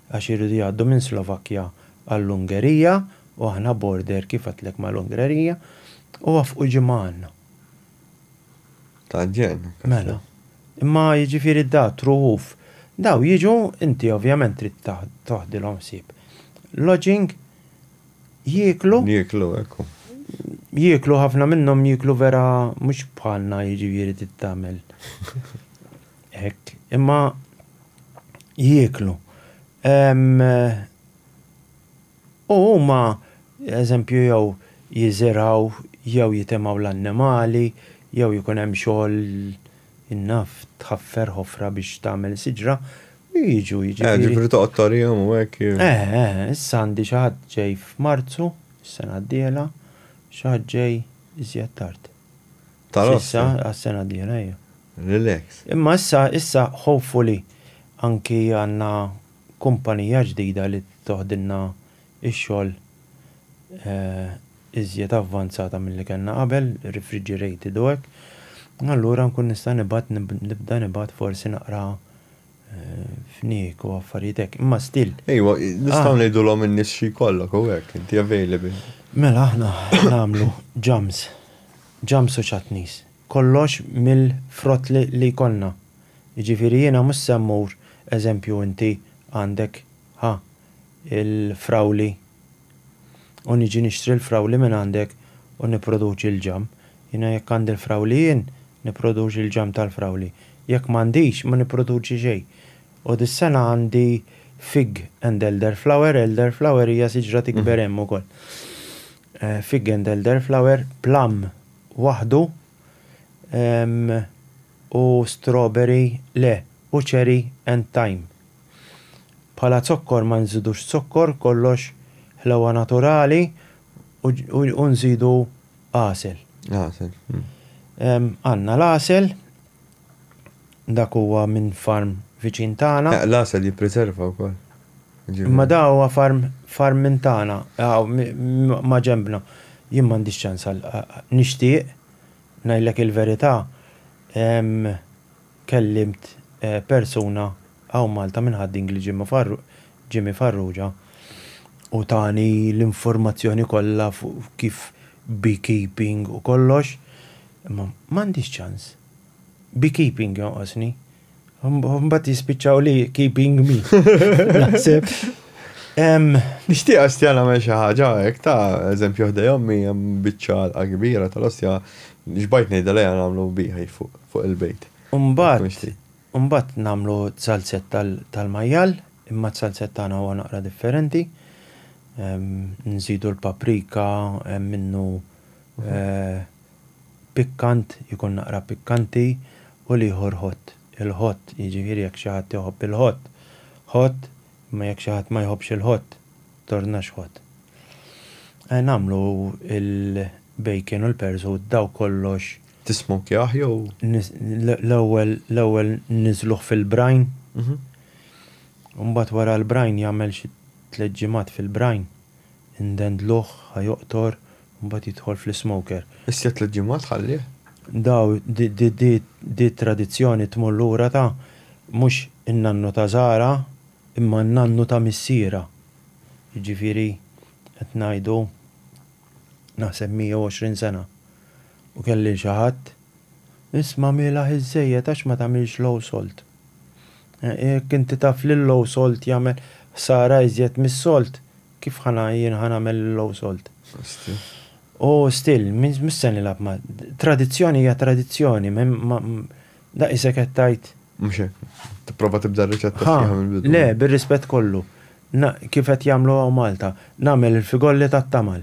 għax iridu jgħaddu minn Slovakkja għall-Ungerija u aħna border kif għedtlek mal-Ungrerija u waffqu ġimgħa għandna. Ta' ġenn. Mela. Imma jiġifieri da truħuf. Daw jiġu inti ovvjament trid toħdilhom ħsieb. Lodging jieklu. Jieklu ekku. Jieklu ħafna minnhom jieklu vera mhux bħalna jiġifieri tittamel. Hekk, imma jieklu. U huma, eżempju, jew jiżirgħu jew jitemgħu l-annimali, jew ikun hemm xogħol naf tħaffer ħofra biex tagħmel siġra, u jiġu jiġifieri. Ġifieri toqgħod torihom u hekk. Eh, eh, issa għandi xi ħadd ġej f'Marzu, is-sena d-dieħla, xi ħadd ġej iżjed tard. Tal-ossa? Għas-sena d-dieħla, ejja. Relax. Imma issa, issa hopefully anki għandna kumpanija ġdida li toħdilna x-xogħol iżjed avvanzata milli kellna qabel, refrigerated u hekk, allura nkun nista' nibgħat, nibda nibgħat forsi naqra fniek u affarijiet hekk, imma still. Ejwa, nistgħu ngħidulhom in-nies xi jkollok u hekk, inti available. Mela aħna nagħmlu ġams, ġams u chutneys. Kollox mill-frott li jkollna. Jiġifieri jiena mhux se mmur, eżempju inti għandek, ħa, il-frawli u niġi nixtri l-frawli minn għandek u nipproduċi l-ġamm. Jiena jekk għandi l-frawli jien, nipproduċi l-ġamm tal-frawli. Jekk m'għandix, ma nipproduċi xejn. U dis-sena għandi fig and elderflower, elderflower hija siġra tikber hemm ukoll. Fig and elderflower, plum waħdu u strawberry le, u cherry and thyme. Bħala zokkor ma nżidux zokkor, kollox ħlewha naturali u nżidu għasel. Għasel. Għandna l-għasel, dak huwa minn farm viċin tagħna. L-għasel jippriserva wkoll. Imma da huwa farm farm minn tagħna, maġenbna. Jien m'għandix ċans għal nixtieq, ngħidlek il-verità, Kellimt persuna hawn Malta minn Ħad-Dingli Jimmy Farrugia u tani l-informazzjoni kollha fuq kif beekeeping u kollox, imma m'għandix ċans. Beekeeping jonqosni. Mbagħad jispiċċaw li keeping me. Naħseb. Nixtieq ostja nagħmel xi ħaġa hekk ta' eżempju ħdej ommi hemm biċċa għalqa kbira tal-ostja xbajt ngħidha lejha nagħmlu beehive fuq. fuq il-bejt. U mbagħad, u mbagħad nagħmlu t-salzett tal-majjal, imma t-salzett tagħna huwa naqra differenti. Nżidu l-paprika, hemm minnu pikkant, ikun naqra pikkanti, u l-ieħor hot. Il-hot, jiġifieri jekk xi ħadd iħobb il-hot, hot, imma jekk xi ħadd ma jħobbx il-hot, tornax hot. Nagħmlu l-bacon u l-pears u daw kollox. Tismokkjah jew? L-ewwel l-ewwel niżluh fil-brine. U mbagħad wara l-brine jagħmel xi tliet ġimgħat fil-brine. Indendluh ħa joqtor u mbagħad jidħol fl-ismoker. Issa tliet ġimgħat ħallih? Daw di t-tradizzjoni tmur lura ta' mhux in-nannu ta' Zahra imma n-nannu ta' missierha. Jiġifieri qed ngħidu naħseb 120 sena, u kelli lil xi ħadd, Isma' mielaħ iżżejjed għax ma tagħmilx low salt. Jekk inti taf li l-low salt jagħmel ħsara iżjed mis-solt, kif ħa jien ħa nagħmel il-low salt? U still, mhux se nilgħab ma'. Tradizzjoni hija tradizzjoni, daqs isek qed tgħid. Mhux hekk. Tipprova tibda r-riċetta sħiħa mill-bidu. Le, bir-rispett kollu. Na, kif qed jagħmlu hawn Malta, nagħmel il-figolli tat-tamal.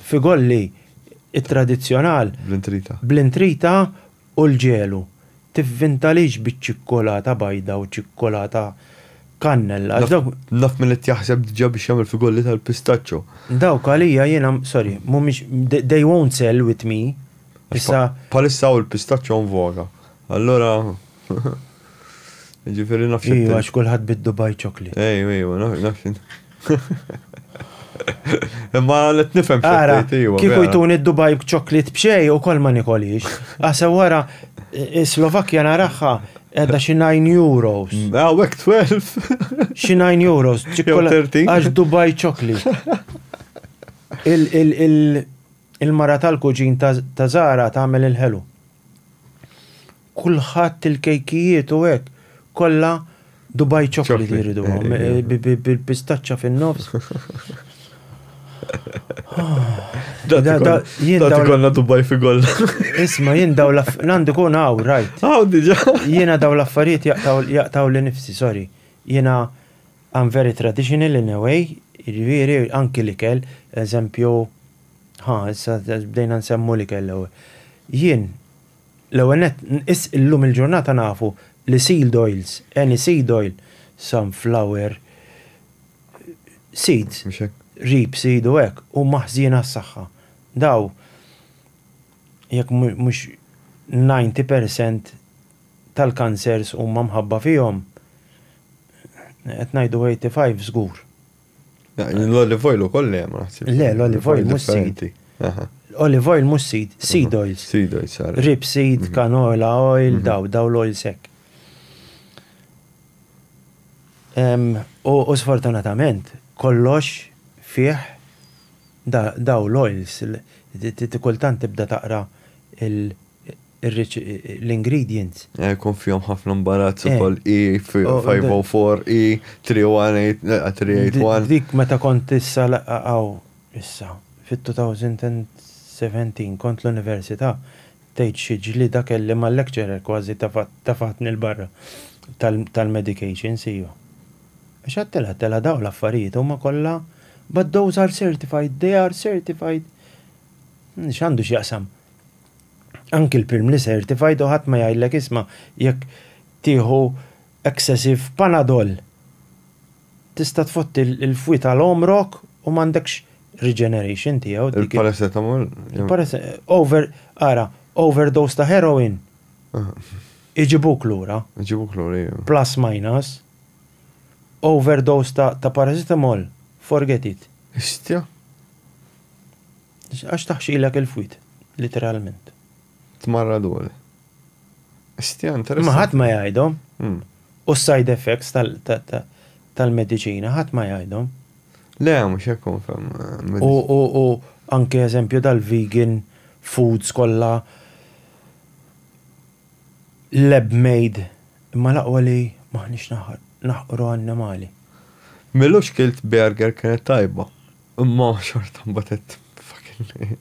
Figolli it-tradizzjonal. Bl-intrita. Bl-intrita u l-ġelu. Tivvintalix biċ-ċikkulata bajda u ċikkulata kannella. Naf min qed jaħseb diġà biex jagħmel figolli tal-pistaċċo. Dawk għalija jiena, sorry, mhumiex, they won't sell with me. Issa. Bħalissa hawn il-pistaċċo on voga. Allura, jiġifieri naf x'inti. Ejju, għax kulħadd bid-Dubai Chocolate. Ejju, ejju, naf x'inti. Imma qed nifhem x'inti tgħid, ejju. Kieku jtuni d-Dubai Chocolate b'xejn ukoll ma nikolhiex. Aħseb wara, is-Slovakkja naraha qiegħda xi nine euros. Hawnhekk twelv. Xi nine euros. Jew thirteen. Għax Dubai Chocolate. Il-. Il-mara tal-kuġin ta' Zara tagħmel il-ħelu. Kulħadd il-kejkijiet u hekk kollha Dubai chocolate jridu eh, eh, eh. bil-pistaċċa fin-nofs. Jien konna Dubai fi golla. Isma, jien daw l-għandu kun għaw, rajt. Għaw diġa. Jiena daw l-affarijiet jaqtaw li nifsi, sorry. Jiena I'm very traditional in a way, jiġifieri anki l-ikel, eżempju, ħa issa bdejna nsemmu l-ikel l-ewwel. Jien, l-ewwel nett, is illum il-ġurnata nafu li sealed oils, any seed oil, sunflower, seeds, rape seed u hekk, huma ħżiena għas-saħħa. Daw, jekk mhux ninety percent tal-kansers huma mħabba fihom, Qed ngħidu 85 żgur. L-olive oil ukoll le ma naħsib. Le, l-olive oil mhux seed. Olive oil mhux seed, seed oils. Seed oils, Rib seed, mhm. canola oil, mhm. daw, daw l-oil sek. U sfortunatament, kollox fih daw l-oils, kultant tibda taqra il- l-ingredients. Jkun fihom ħafna mbarazz ukoll E504, E381. Dik meta kont issa hawn issa fit-2017 kont l-università tgħid xi ġlieda kelli mal-lecturer kważi tefatni 'l barra tal-medications hija. Għax għedtilha, għedtilha dawn l-affarijiet huma kollha but those are certified, they are certified. X'għandu x'jaqsam? Anki l-pirmly certified u ħadd ma jgħidlek isma' jekk tieħu excessive panadol tista' tfotti l-fwi tal-għomrok u m'għandekx regeneration tiegħu. Il-paracetamol? Over, ara, overdose ta' heroin iġibuk lura. Iġibuk lura, ija. Plus minus. Overdose ta' paracetamol, forget it. Istja. Għax taħxilek il-fwied, literalment. Tmarraduni. Stja interessanti. Ma ħadd ma jgħidhom. Hmm. U s-side effects tal-mediċina ħadd ma jgħidhom. Le, mhux hekk konfem. Eh, u anke eżempju dal-vegan foods kollha Lab made imma l-aqwa li m'aħniex naħqru annimali. M'ilux kilt burger kienet tajba imma xorta mbagħad għedt fucking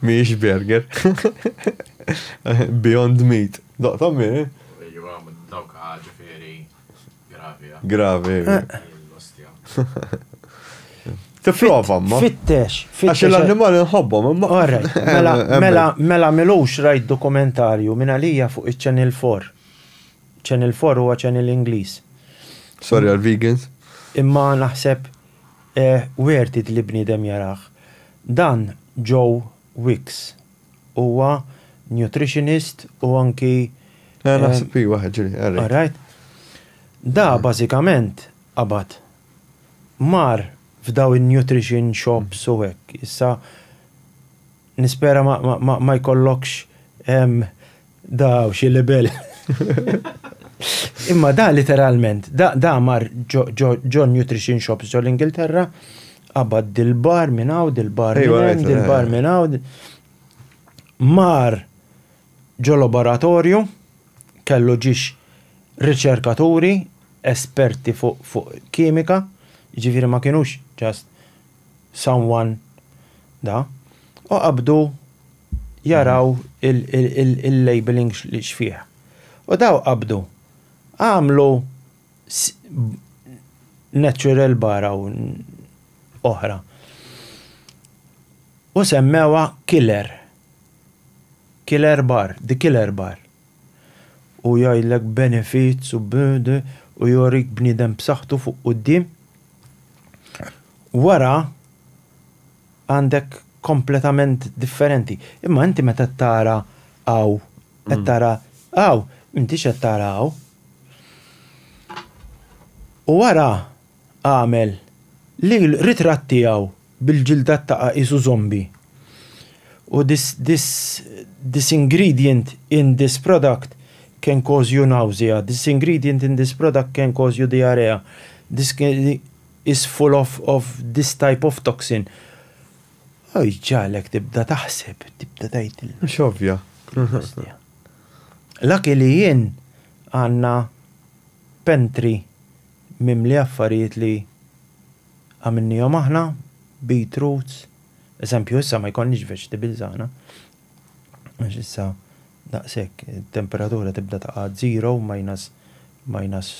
mhijiex burger. Beyond meat. Daqthom hi. Iva, dawk ġifieri Gravi. Tipprova, ma. Fittex, fittex. Għax l-annimali nħobbhom, imma. Orrek, mela, mela, mela milux rajt dokumentarju minn għalija fuq iċ-Channel 4. Channel 4 huwa Channel Ingliż. Sorry għal vegans. Imma naħseb eh, wertit li bniedem jaraħ. Dan Joe Wicks. huwa nutritionist u anki. Eh, naħseb hi waħed ġiri, Eric. Alright. Da bażikament qabad mar f'daw in-nutrition shops u hekk. Issa nispera ma jkollokx Da u xi libel. Imma da literalment, da, da mar ġo nutrition shops ġo l-Ingilterra, qabad dil-bar minn hawn, dil-bar minn dil-bar minn hawn. Mar ġo laboratorju, kellu ġiex riċerkaturi, esperti fuq kimika, ġifiri ma kienux ġast someone da, u qabdu jaraw il-labeling x'fih. U daw qabdu għamlu natural bar hawn oħra. U semmewha killer. Killer bar, the killer bar. U jgħidlek benefits u u jorik bniedem b'saħħtu fuq quddiem. wara għandek kompletament differenti. Imma inti meta tara għaw, qed tara għaw, inti qed tara għaw. U wara għamel li l-ritrat tiegħu bil-ġilda taqa' qisu zombi u this this this ingredient in this product can cause you nausea, this ingredient in this product can cause you diarrhea, this is full of of this type of toxin. U jġagħlek tibda taħseb, tibda tgħid. Mhux ovvja. Lucky li jien għandna pantry mimli affarijiet li Għamilniehom aħna, beet roots, eżempju issa ma jkollniex vegetables aħna għax issa daqshekk it-temperatura tibda taqa' għad zero, minus minus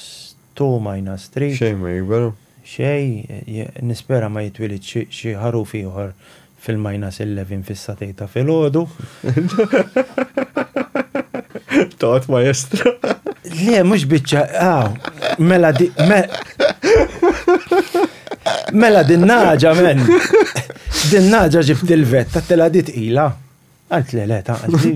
two, minus three. Xejn ma jikber. Xejn, nispera ma jitwilidx xi ħaruf ieħor Fil-minus 11 fis-satej ta' filgħodu. Tot maestro. Le, mhux biċċa, aw, mela di. Mela din naġa men. Din naġa ġibt il-vetta tela dit ila. Għalt le le ta' għalli.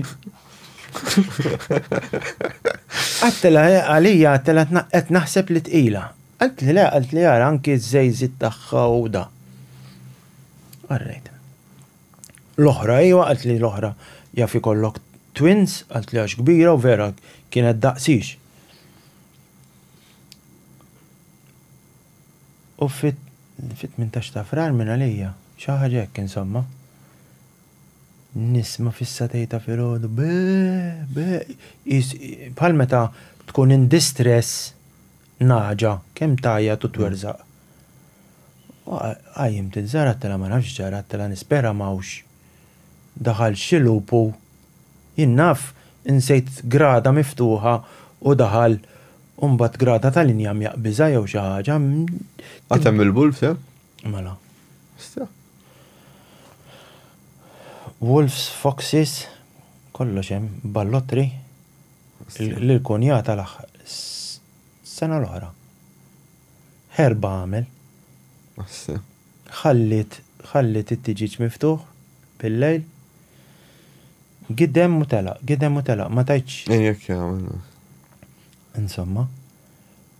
Għattela eh, għalija għattela qed naħseb li tqila. Għalt li le għalt li għara anki z-zejzit tagħha u da. All right. L-oħra, iva, għalt li l-oħra jaf ikollok twins, għalt li għax kbira u vera kienet daqsix. U fit fit minn tax ta' frar minn għalija, xaħġa jekk insomma. Nisma fissa tejta fil-ħodu, be, be, bħal meta tkun in distress Nagħġa, kemm tgħajjat u twerżaq. Qajjimt inzaratla ma nafx x'ġaratlha, nispera m'hawnx. Daħal xi lupu, jien naf, insejt grada miftuħa u daħal u mbagħad grada tal-injam jaqbiżha jew xi ħaġa. Għad hemm il-wolves hemm? Mela. Sta. Wolves, foxes, kollox hemm, ballottri, lill-kunjata l-aħħar sena l-oħra. Ħerba għamel. Ħalliet ħalliet it-tiġieġ miftuħ bil-lejl. Gidem u telaq, gidem u telaq, ma tajtx. Ejjek jagħmel. Insomma.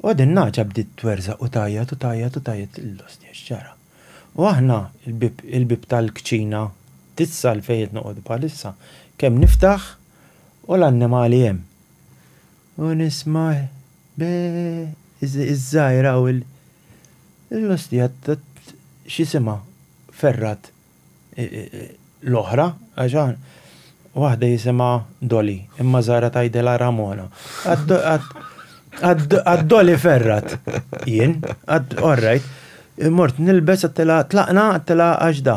U din naġa bdiet twerżaq u tajjat u tajjat u tajjat l-ostja x'ġara. U aħna il-bib il-bib tal-kċina tissal fejn qed noqogħdu bħalissa kemm niftaħ U l-annimali hemm. U nisma' iż-żgħira u l. L-ostja x'isimha Ferrat l-oħra għax waħda jisimha Doli imma żgħira tgħidilha Ramona. Għad-Doli Ferrat jien, orrajt, mort nilbes għattilha tlaqna għattilha għax da.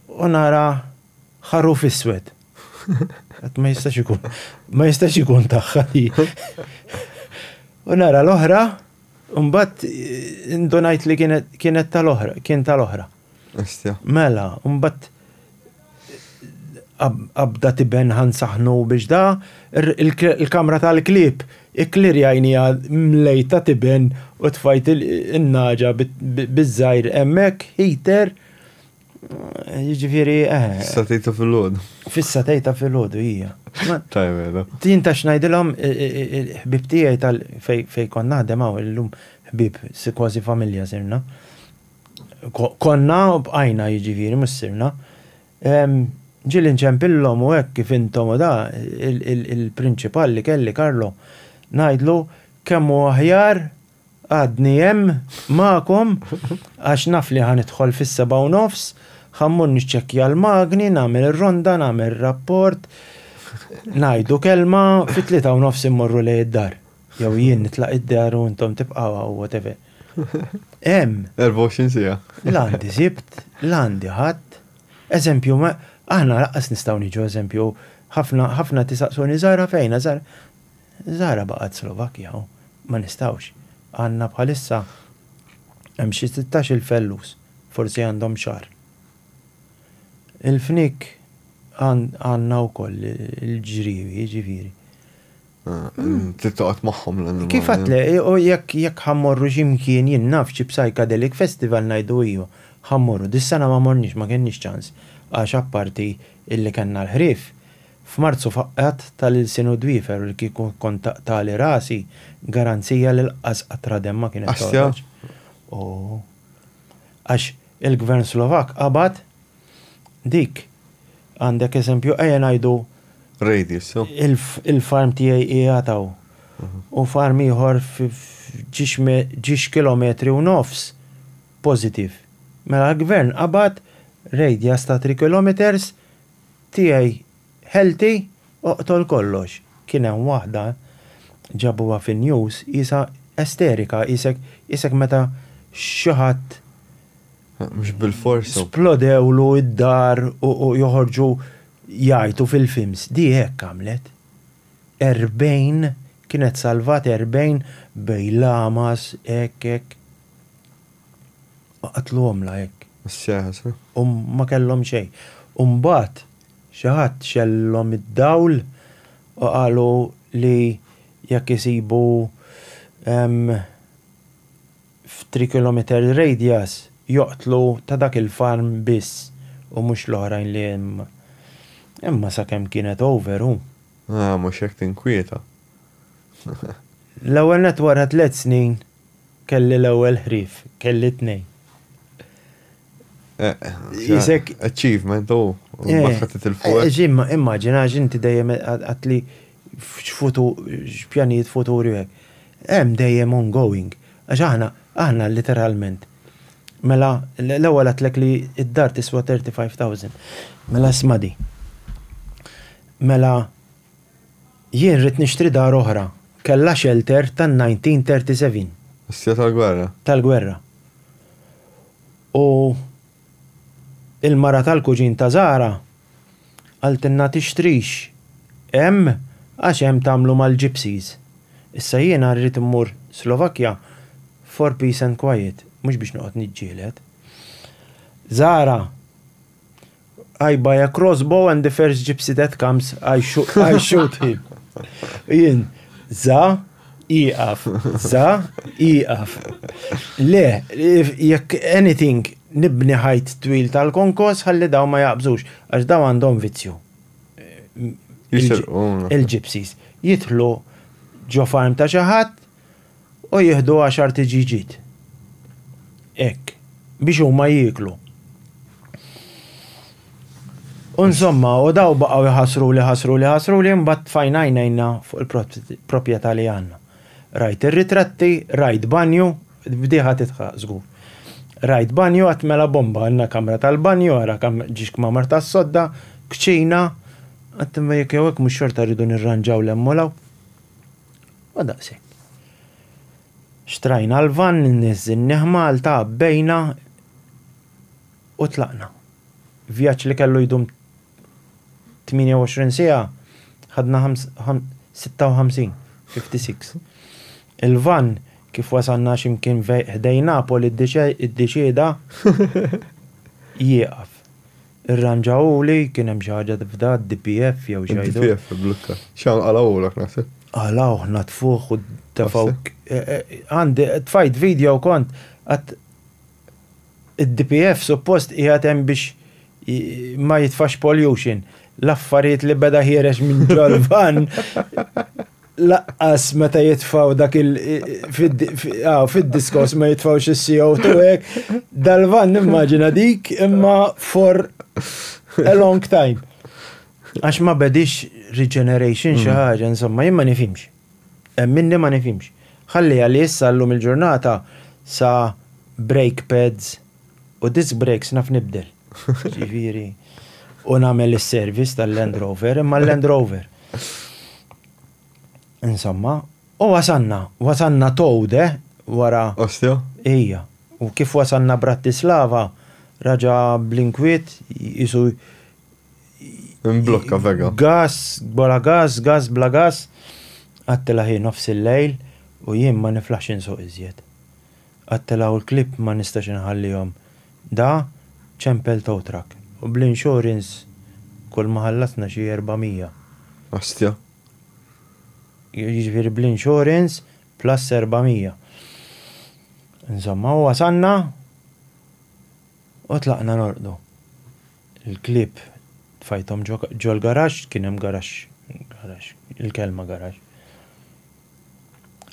u nara ħaruf iswed. Għat ma jistax ikun, ma jistax ikun taħħa li. U nara l-oħra, Umbat, ndonajt li kienet tal-oħra, kien tal-oħra. Mela, umbat, abda tiben ħan saħnu biex da, il-kamra tal-klib, il Ikklirjajniha mlejta tiben u tfajt in-nagħġa biż-żgħir hemmhekk, heater, jiġifieri eħe. Fis-satej ta' filgħodu. Fis-satej ta' filgħodu hija. Tajjeb mela. Jien ta' x'ngħidilhom il-ħbieb tiegħi tal fejn kont naħdem hawn illum ħbieb kważi familja sirna. Konna u bqajna jiġifieri mhux sirna. Ġieli nċempillhom u hekk kif intom u da, il-prinċipal li kelli, Carlo, ngħidlu kemm hu aħjar għadni hemm magħkom għax naf li ħa nidħol fis-sebgħa u nofs, ħa mmur niċċekkja l-magni, nagħmel ir-ronda, nagħmel rapport, ngħidu kelma, fit-tlieta u nofs immorru lejn id-dar. Jew jien nitlaq id-dar u intom tibqgħu hawn, whatever. Hemm. 24 siegħa. L-għandi sibt, l-għandi ħadd. Eżempju, aħna raqqas nistgħu niġu eżempju, ħafna ħafna tisaqsuni Zara fejna, Zara. Zara baqgħet Slovakkja, ma nistgħux. Għandna bħalissa hemm xi 16 il-fellus, forsi għandhom xar. Il-fnik għandna wkoll il-ġriewi, ġifieri. Tittoqgħod magħhom l-annimali. Kif għatle, u jekk jekk ħammorru x'imkien jien naf xi psychedelic festival ngħidu iju, ħammorru. Dis-sena ma morniex, ma kenniex ċans għax apparti illi kellna l-ħrief, f'Marzu faqqgħet ta' l-ilsien u d-dwiefer u li kieku kont taqtagħli rasi, garanzija li lqqas qatra demm ma kienet toħroġ. Għax il-Gvern Slovakk qabad Dik, għandek eżempju, ejja ngħidu. Radius, so. Il-farm tiegħi qiegħed hawn. U farm ieħor ġiex kilometri u nofs pożittiv. Mela l-gvern qabad radius ta' three kilometres tiegħi Healthy, oqtol kollox. Kien hemm waħda ġabuha fin-news qisha esterika qisek qisek meta xi ħadd Mhux bilfors hu. Splodewlu d-dar u joħorġu jgħajtu fil-films. Di hekk għamlet. Erbgħin kienet salvat erbgħin bejn lamas hekk hekk. Qatluhomlha hekk. Is-sieħa, sa. U ma kellhom xejn. U mbagħad Xi ħadd xegħlilhom id-dawl u qalu li jekk isibu f'three kilometres radius joqtlu ta' dak il-farm biss u mhux l-oħrajn li hemm. Imma sakemm kienet over u. Ah, mhux hekk tinkwieta. L-ewwel nett wara tliet snin Kelli l-ewwel ħrief, kelli t-tnejn. Isek. Achievement, u l-baħħa titilfu. Imma immaġina għax inti dejjem għad li x'pjanijiet futuri u hekk. Hemm dejjem ongoing. Għax aħna, aħna literalment. Mela l-ewwel għedtlek li d-dar tiswa 35,000. Mela isma' di. Mela Jien ridt nixtri dar oħra. Kellha xelter ta' 1937. Is-sija tal-gwerra. Tal-gwerra. U il-mara tal-kuġin ta' Zahra qaltilna tixtrix hemm għax hemm tagħmlu mal-gypsies. Issa jiena rrid immur Slovakkja for peace and quiet, mhux biex noqgħod niġġieled. Zahra I buy a crossbow and the first gypsy that comes, I shoot, I shoot him. Jien, za, iqaf, za, iqaf. Le, jekk anything, nibni ħajt twil tal-konkos, ħalli daw ma jaqbżux, għax daw għandhom vizzju. Il-gypsies. Jitlu ġo farm ta' xaħat, u jieħdu għaxar tiġiġiet. Hekk, biex huma jieklu. U insomma, u daw baqgħu jħassru li ħassru li ħassru li mbagħad fajna jnejna fuq il-proprjetà li għandna. Rajt ir-ritratti, rajt banju, bdiħa titħaq żgur. Rajt banju għat mela bomba, għandna kamra tal-banju, għara kam ġiex kmamar tas-sodda, kċina, għattimma jekk jew hekk mhux xorta rridu nirranġaw l-emmolaw. Ma daqshekk. Xtrajna l-vann, niżżinnieh Malta, għabbejna u tlaqna. Vjaġġ li kellu jdum 28 siegħa, ħadna 56, 56. Il-vann, kif wasalna xi mkien ħdejn Napoli, iddeċieda jieqaf. Irranġawhuli, kien hemm xi ħaġa tifda, d-DPF jew xi ħaġa. Id-DPF ibblukka. X'hawn qalgħuhulek naħseb? Qalgħuh, natfuh u tefgħu. Għandi, tfajt video kont għad id-DPF suppost qiegħed hemm biex ma jitfax pollution. L-affarijiet li beda ħiereġ minn ġol-van. laqqas meta jitfaw dak il ah, fid-diskos ma jitfaw xi CO2 hekk, dal-van nimmaġina dik imma for a long time. Għax ma bedix regeneration xi mm. ħaġa, insomma, jien ma nifimx. Minni ma nifimx. Ħalli għalli issa llum il-ġurnata sa brake pads, U disc brakes naf nibdel. Ġifieri, u nagħmel is-service tal-Land Rover, imma l-Land Rover. Insomma, u wasanna, wasanna Towde wara. Ostia? Ija. U kif wasanna Bratislava, raġa blinkwiet jisu. Imblokka vega. Gas, bola gas, gas, bla gas. Għattila ħin nofs il-lejl u jien ma niflax insuq iżjed. Attelgħu l-klieb ma nistax inħallihom. Da ċempel towtrak. U bl-insurance kulma ħallasna xi erbamija. Astja. Jiġifieri bl-insurance plus erbamija. Insomma, u wasalna u tlaqna norqdu. Il-klieb tfajthom ġol-garaxx, kien hemm garaxx, garaxx, il-kelma garaxx.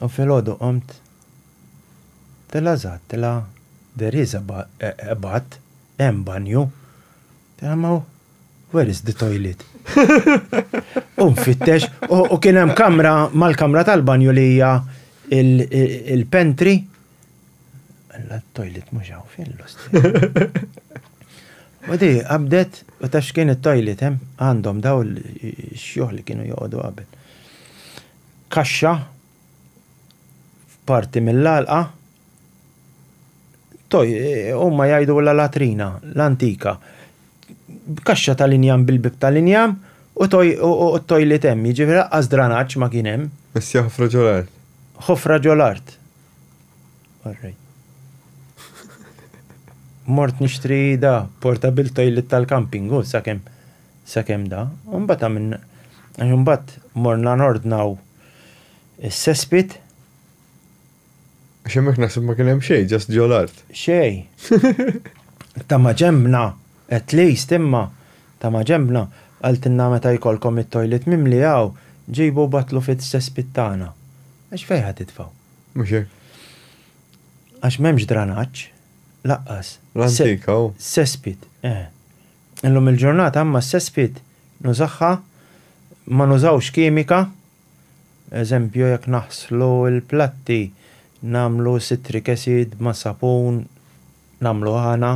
U filgħodu qomt, tilha żgħat, tilha there is a bath, hemm banju, tilha ma hu where is the toilet? U nfittex u kien hemm kamra mal-kamra tal-banju li hija il-pantry. Alla t-toilet mhux hawn fejn l-osti. U di qabdet u ta' x'kien it-toilet hemm għandhom daw l-xjuħ li kienu joqogħdu qabel. kaxxa f'parti mill-għalqa toj huma jgħidulha latrina l-antika. Kaxxa tal-injam bil-bieb tal-injam u t-tojliet hemm, jiġifieri laqqas dranaġġ ma kien hemm. Biss hija ħofra ġo l-art. Ħofra ġo l-art. Mort nixtri da, portable toilet tal-camping, hu sakemm. Sakemm da, u mbagħad għamilna, għax imbagħad morna nordnaw is-sespit. Għax hemmhekk naħseb ma kien hemm xejn, ġast ġo l-art. Xejn. Ta' ma ġembna, at least imma, ta' ma ġembna, qaltilna meta jkollkom it-toilet mimli hawn, ġibu u battlu fis-sespit tagħna. Għax fejn ħa titfgħu? Mhux hekk. Għax m'hemmx dranaġġ, laqqas. L-antik hawn. Sespit, eh. Illum il-ġurnata imma s-cesspit nużagħha ma nużawx kimika, eżempju jekk naħslu l-platti nagħmlu citric acid ma' sapun nagħmlu għana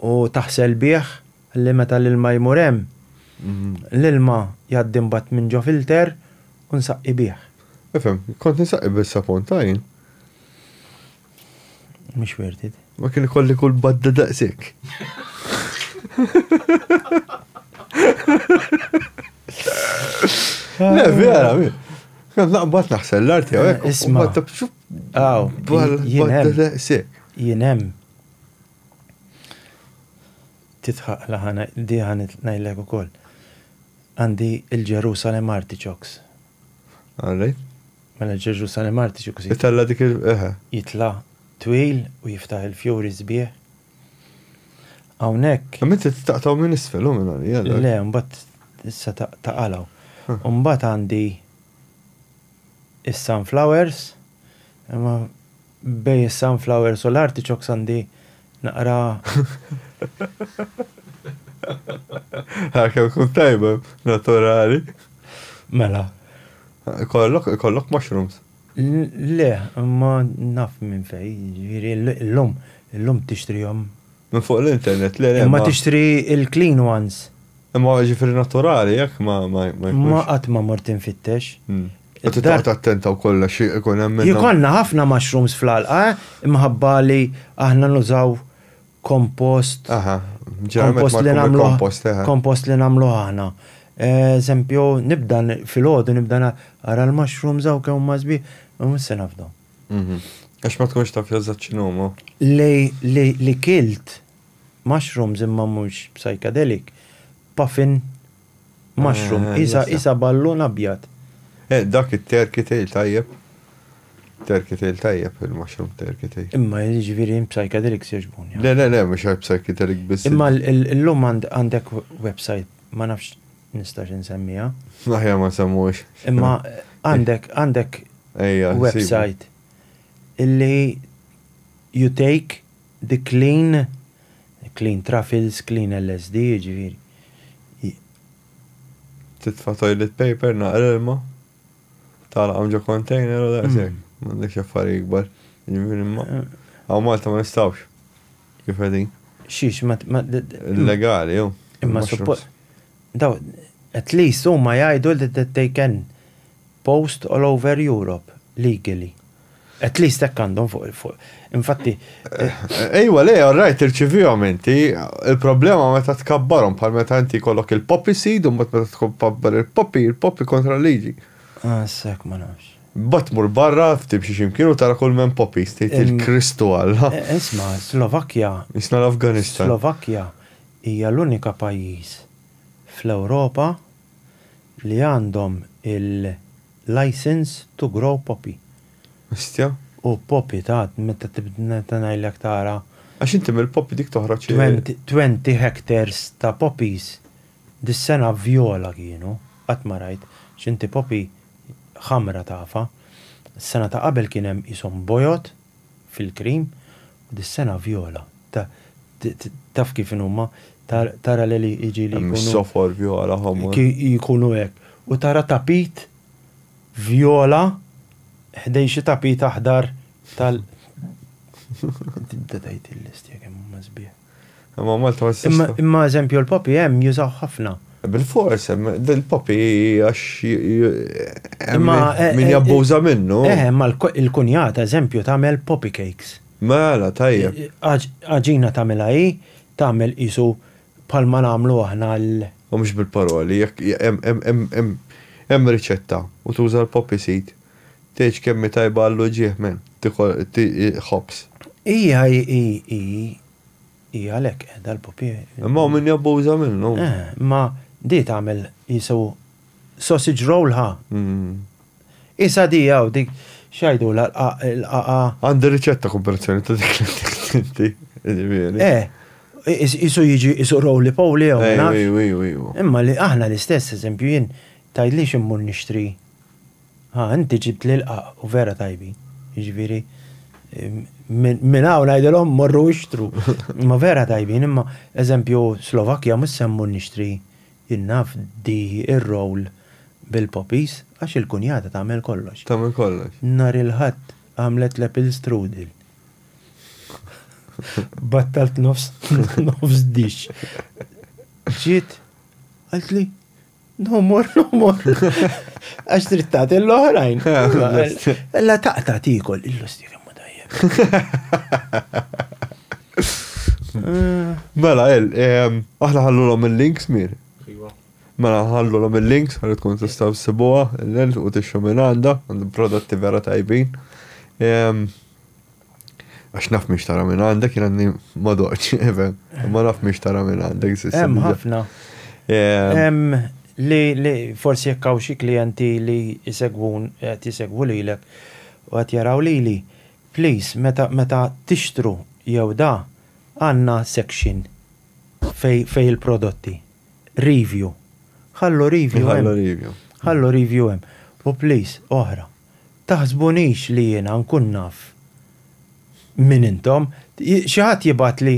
u taħsel bih ħalli meta l-ilma jmur hemm l-ilma jgħaddi mbagħad minn ġo filter u nsaqqi bih. Nifhem, kont insaqqi bis-sapun tajn. Mhux worth it. Ma kien ikolli kull badda daqsik. Le, vera, mi. Kan naqbad naħsel l-art jew hekk. Isma. Aw, badda daqsik. Jien hemm. Titħaq laħana di ħanet ngħidlek ukoll. Għandi il-Ġerusalem artichokes. Għalli? Mela Ġeġu sali Marti xi kusir. Itella' dik il eħe. Jitla' twil u jiftaħ il-fjuri sbieħ. Hawnhekk. Imma inti taqtgħu minn isfel hu minn għalija dak. Le, mbagħad issa ta' qalgħu. U mbagħad għandi is-sunflowers imma Bejn is-sunflowers u l-artichokes għandi naqra. Għalkemm tkun tajba, naturali. Mela. Ikollok, ikollok mushrooms? Le, imma naf minn fejn, jiġifieri llum, illum tixtrihom. Minn fuq l-internet, le, le. Imma tixtri l-clean ones. Imma jiġifieri naturali, jekk ma, ma, ma jkunx. Ma qatt ma mort infittex. Inti taqgħod attenta wkoll għax ikun hemm minnhom. Jkollna ħafna mushrooms fl-għalqa imħabba li aħna nużaw kompost. Aha, ġeneralment ma jkun il-kompost, eħe. Kompost li nagħmluh aħna. Eżempju, nibda filgħodu nibda ara l-mushrooms hawn kemm huma sbieħ, u mhux se nafdhom. Għax ma tkunx taf eżatt x'inhuma. Li kilt mushrooms imma mhux psychedelic, puffin Mushroom, qisha qisha ballun abjad. Eh dak it-turkey tail tajjeb. Turkey tail tajjeb, il-mushroom turkey tail. Imma jiġifieri hemm psychedelics jogħġbuni. Le le le mhux għall-psychedelic biss. Imma llum għandek website, ma nafx nistax insemmiha. Aħjar ma nsemmuhiex. Imma għandek għandek website illi you take Dik clean, clean truffles, clean LSD, jiġifieri. Titfa' toilet paper, naqra ilma, tagħlaqhom ġo container u daqshekk. M'għandekx affarijiet ikbar. Jiġifieri ma. Hawn Malta ma nistgħux. Kif qegħdin. Xiex ma. Illegali jew. Imma suppost. Daw, at least huma jgħidu li they can post all over Europe legally. At least hekk għandhom fuq il-fuq. Infatti. Ejwa, le, all right, irċivihom inti. Il-problema meta tkabbarhom bħal meta inti kollok il-poppy seed u mbagħad meta tkabbar il-poppy, il-poppy kontra liġi. Ah, sekk ma nafx. Bat mur barra, timxi ximkien u tara kull men poppy, stejt il-Kristu għalla. Eh, eh, isma, Slovakkja. Isna l-Afganistan. Slovakkja hija l-unika pajjiż fl-Ewropa li għandhom il-licence to grow poppy. Ostja. U poppy ta' meta meta ngħidlek tara. Għax inti mill-poppy dik toħroġ. Twenty hectares ta' poppies dis-sena vjola kienu, qatt ma rajt, x'inti poppy ħamra tafha. Is-sena ta' qabel kien hemm qishom bojod. fil-cream u dis-sena vjola. Taf kif inhuma, tara li jiġi li jkunu. Sofor, vjola, ħomor. Jkunu hekk. U tara tapit vjola ħdejn xi tapit aħdar tal. Tibda tgħid il-listja kemm huma sbieħ. Imma Malta ma tistax. Imma eżempju l-popi hemm jużaw ħafna. Bil-fors, il-popi għax min jabbuża minnu. Eh, imma l-kunjata eżempju tagħmel popi cakes. Mela, tajjeb. Għaġina tagħmilha hi, tagħmel qisu bħalma nagħmlu aħna l. U mhux bil-paroli, hemm riċetta u tuża l-popi seed. Tgħidx kemm hi tajba għall-uġigħ men, ħobż. Hi hi hi hi hi għalhekk qiegħda l-pupi. Imma hawn min jabbuża minnu. Eh, imma di tagħmel jisu sausage roll ħa. Mm. Isa di hawn dik xajdu l-qaqa. Għandi riċetta komparazzjoni ta' dik l-inti. Eh, jisu jiġi jisu rowli powli għaw. Imma li aħna l-istess, eżempju, jien tajdli ximmur nixtri Haa inti ġibt l-ilqa u vera tajbin. Jiġifieri minn hawn ngħidilhom morru ixtru. Ma vera tajbin imma eżempju Slovakkja mhux se mmur nixtri jien naf di r-roll bil-poppies għax il-kunjata tagħmel kollox. Tagħmel kollox. Nhar il-Ħadd għamlet l-apple strudel. Battalt nofs dish. Ġiet qaltli, No more, no more. Għax drittat l-oħrajn. Ella taqta tikol, illu stik imma tajjeb. Mela, il, aħna ħallu l-om il-links mir. Iva. Mela, ħallu l-om il-links, ħallu tkun tistaw s-sibuwa, l-lent u t-xu minn għanda, għandu prodotti vera tajbin. Għax naf miex tara minn għandek, jina għanni madoċ, even, ma naf miex tara minn għandek. Hemm ħafna. Hemm li li forsi jekk hawn xi klijenti li jsegwun qed jsegwu lilek u qed jaraw lili, please meta meta tixtru jew da għandna section fej fej il-prodotti. Review. Ħallu review. Ħallu review. Ħallu review hemm. U please, oħra. taħsbunix li jiena nkun naf min intom. Xi ħadd jibgħatli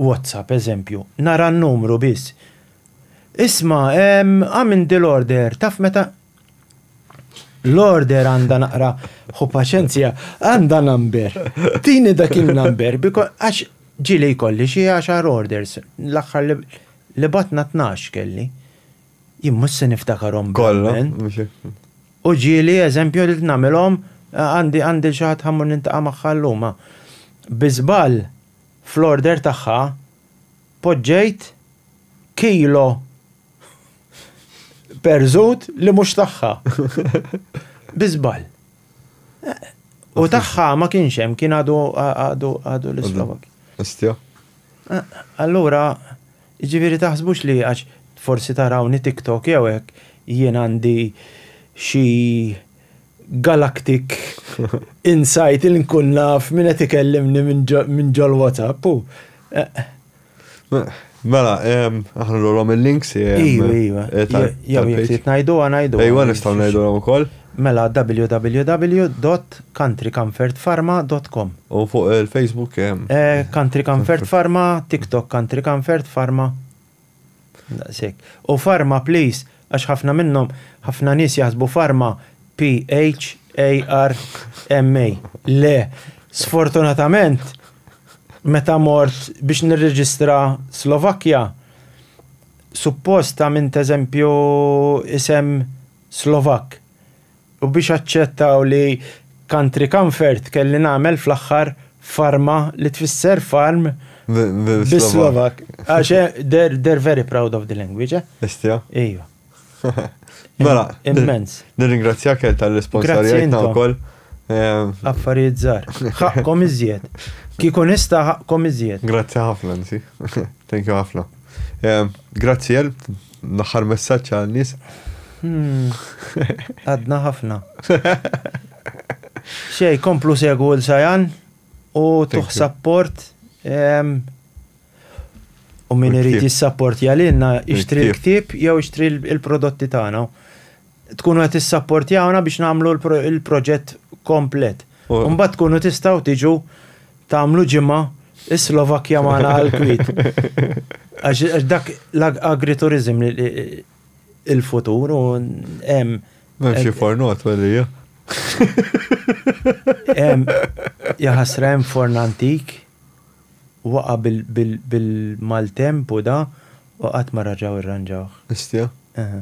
WhatsApp, eżempju, nara n-numru biss, Isma', ehm, għamilt dil-order, taf meta L-order għandha naqra, ħu paċenzja, għandha number. Tini dak in-number, għax ġieli jkolli xi għaxar orders, l-aħħar li bgħatna tnax kelli. Jien mhux se niftakarhom bl-Avvent. U ġieli eżempju li nagħmilhom għandi għandi xi ħadd ħammur nintaqa' magħha llum. Bi żball fl-order tagħha poġġejt kilo perżut li mhux tagħha. Bi żball. U tagħha ma kienx hemm, kien għadu l-Islovak. Allura Jiġifieri taħsbux li għax forsi tarawni TikTok jew hekk jien għandi xi galactic insight li nkun naf min qed ikellimni minn ġol-WhatsApp hu eh. Mela, aħna nurhom il-links. Iva, iva. Jew jekk trid ngħiduha ngħiduha. Iva nistgħu ngħiduha wkoll. Mela www.countrycomfertpharma dot com. U fuq il Facebook hemm? Country Comfert Pharma, TikTok Country Comfert Pharma. Daqs hekk. U Pharma please, għax ħafna minnhom, ħafna nies jaħsbu Pharma P-H-A-R-M-A. Le, sfortunatament meta mort biex nirreġistra Slovakkja, suppost għamilt eżempju isem Slovakk, u biex aċċettaw li Country Comfort kelli nagħmel fl-aħħar Farma li tfisser farm bis-Slovakk. Għax they're very proud of the language, eh? Istja? Iva. Mela, immens. Nirringrazzjak tal-responsarjajtna wkoll. Affarijiet żgħar. Ħaqqhom iżjed. Kieku nista' ħaqqhom iżjed. Grazzi ħafna, Nsi. Thank you ħafna. Grazzi għal l-aħħar messaġġ għal nies. Hmm. Għadna ħafna. Xej, komplu segu l-sajan u tuħ sapport. U min irid jissapport jalinna, ixtri l-ktib jew ixtri l-prodotti tagħna. Tkunu qed tissapportjawna biex nagħmlu l-proġett komplet. U mbagħad tkunu tistgħu tiġu tagħmlu ġimgħa is-Slovakkja magħna għall-kwiet. Għax dak l-agrituriżm il-futur u hemm. Hemm xi fornot għalija. Hemm jaħasra hemm forn antik waqa' bil-maltemp u da u qatt ma raġgħu irranġawh. Istja? Eħe.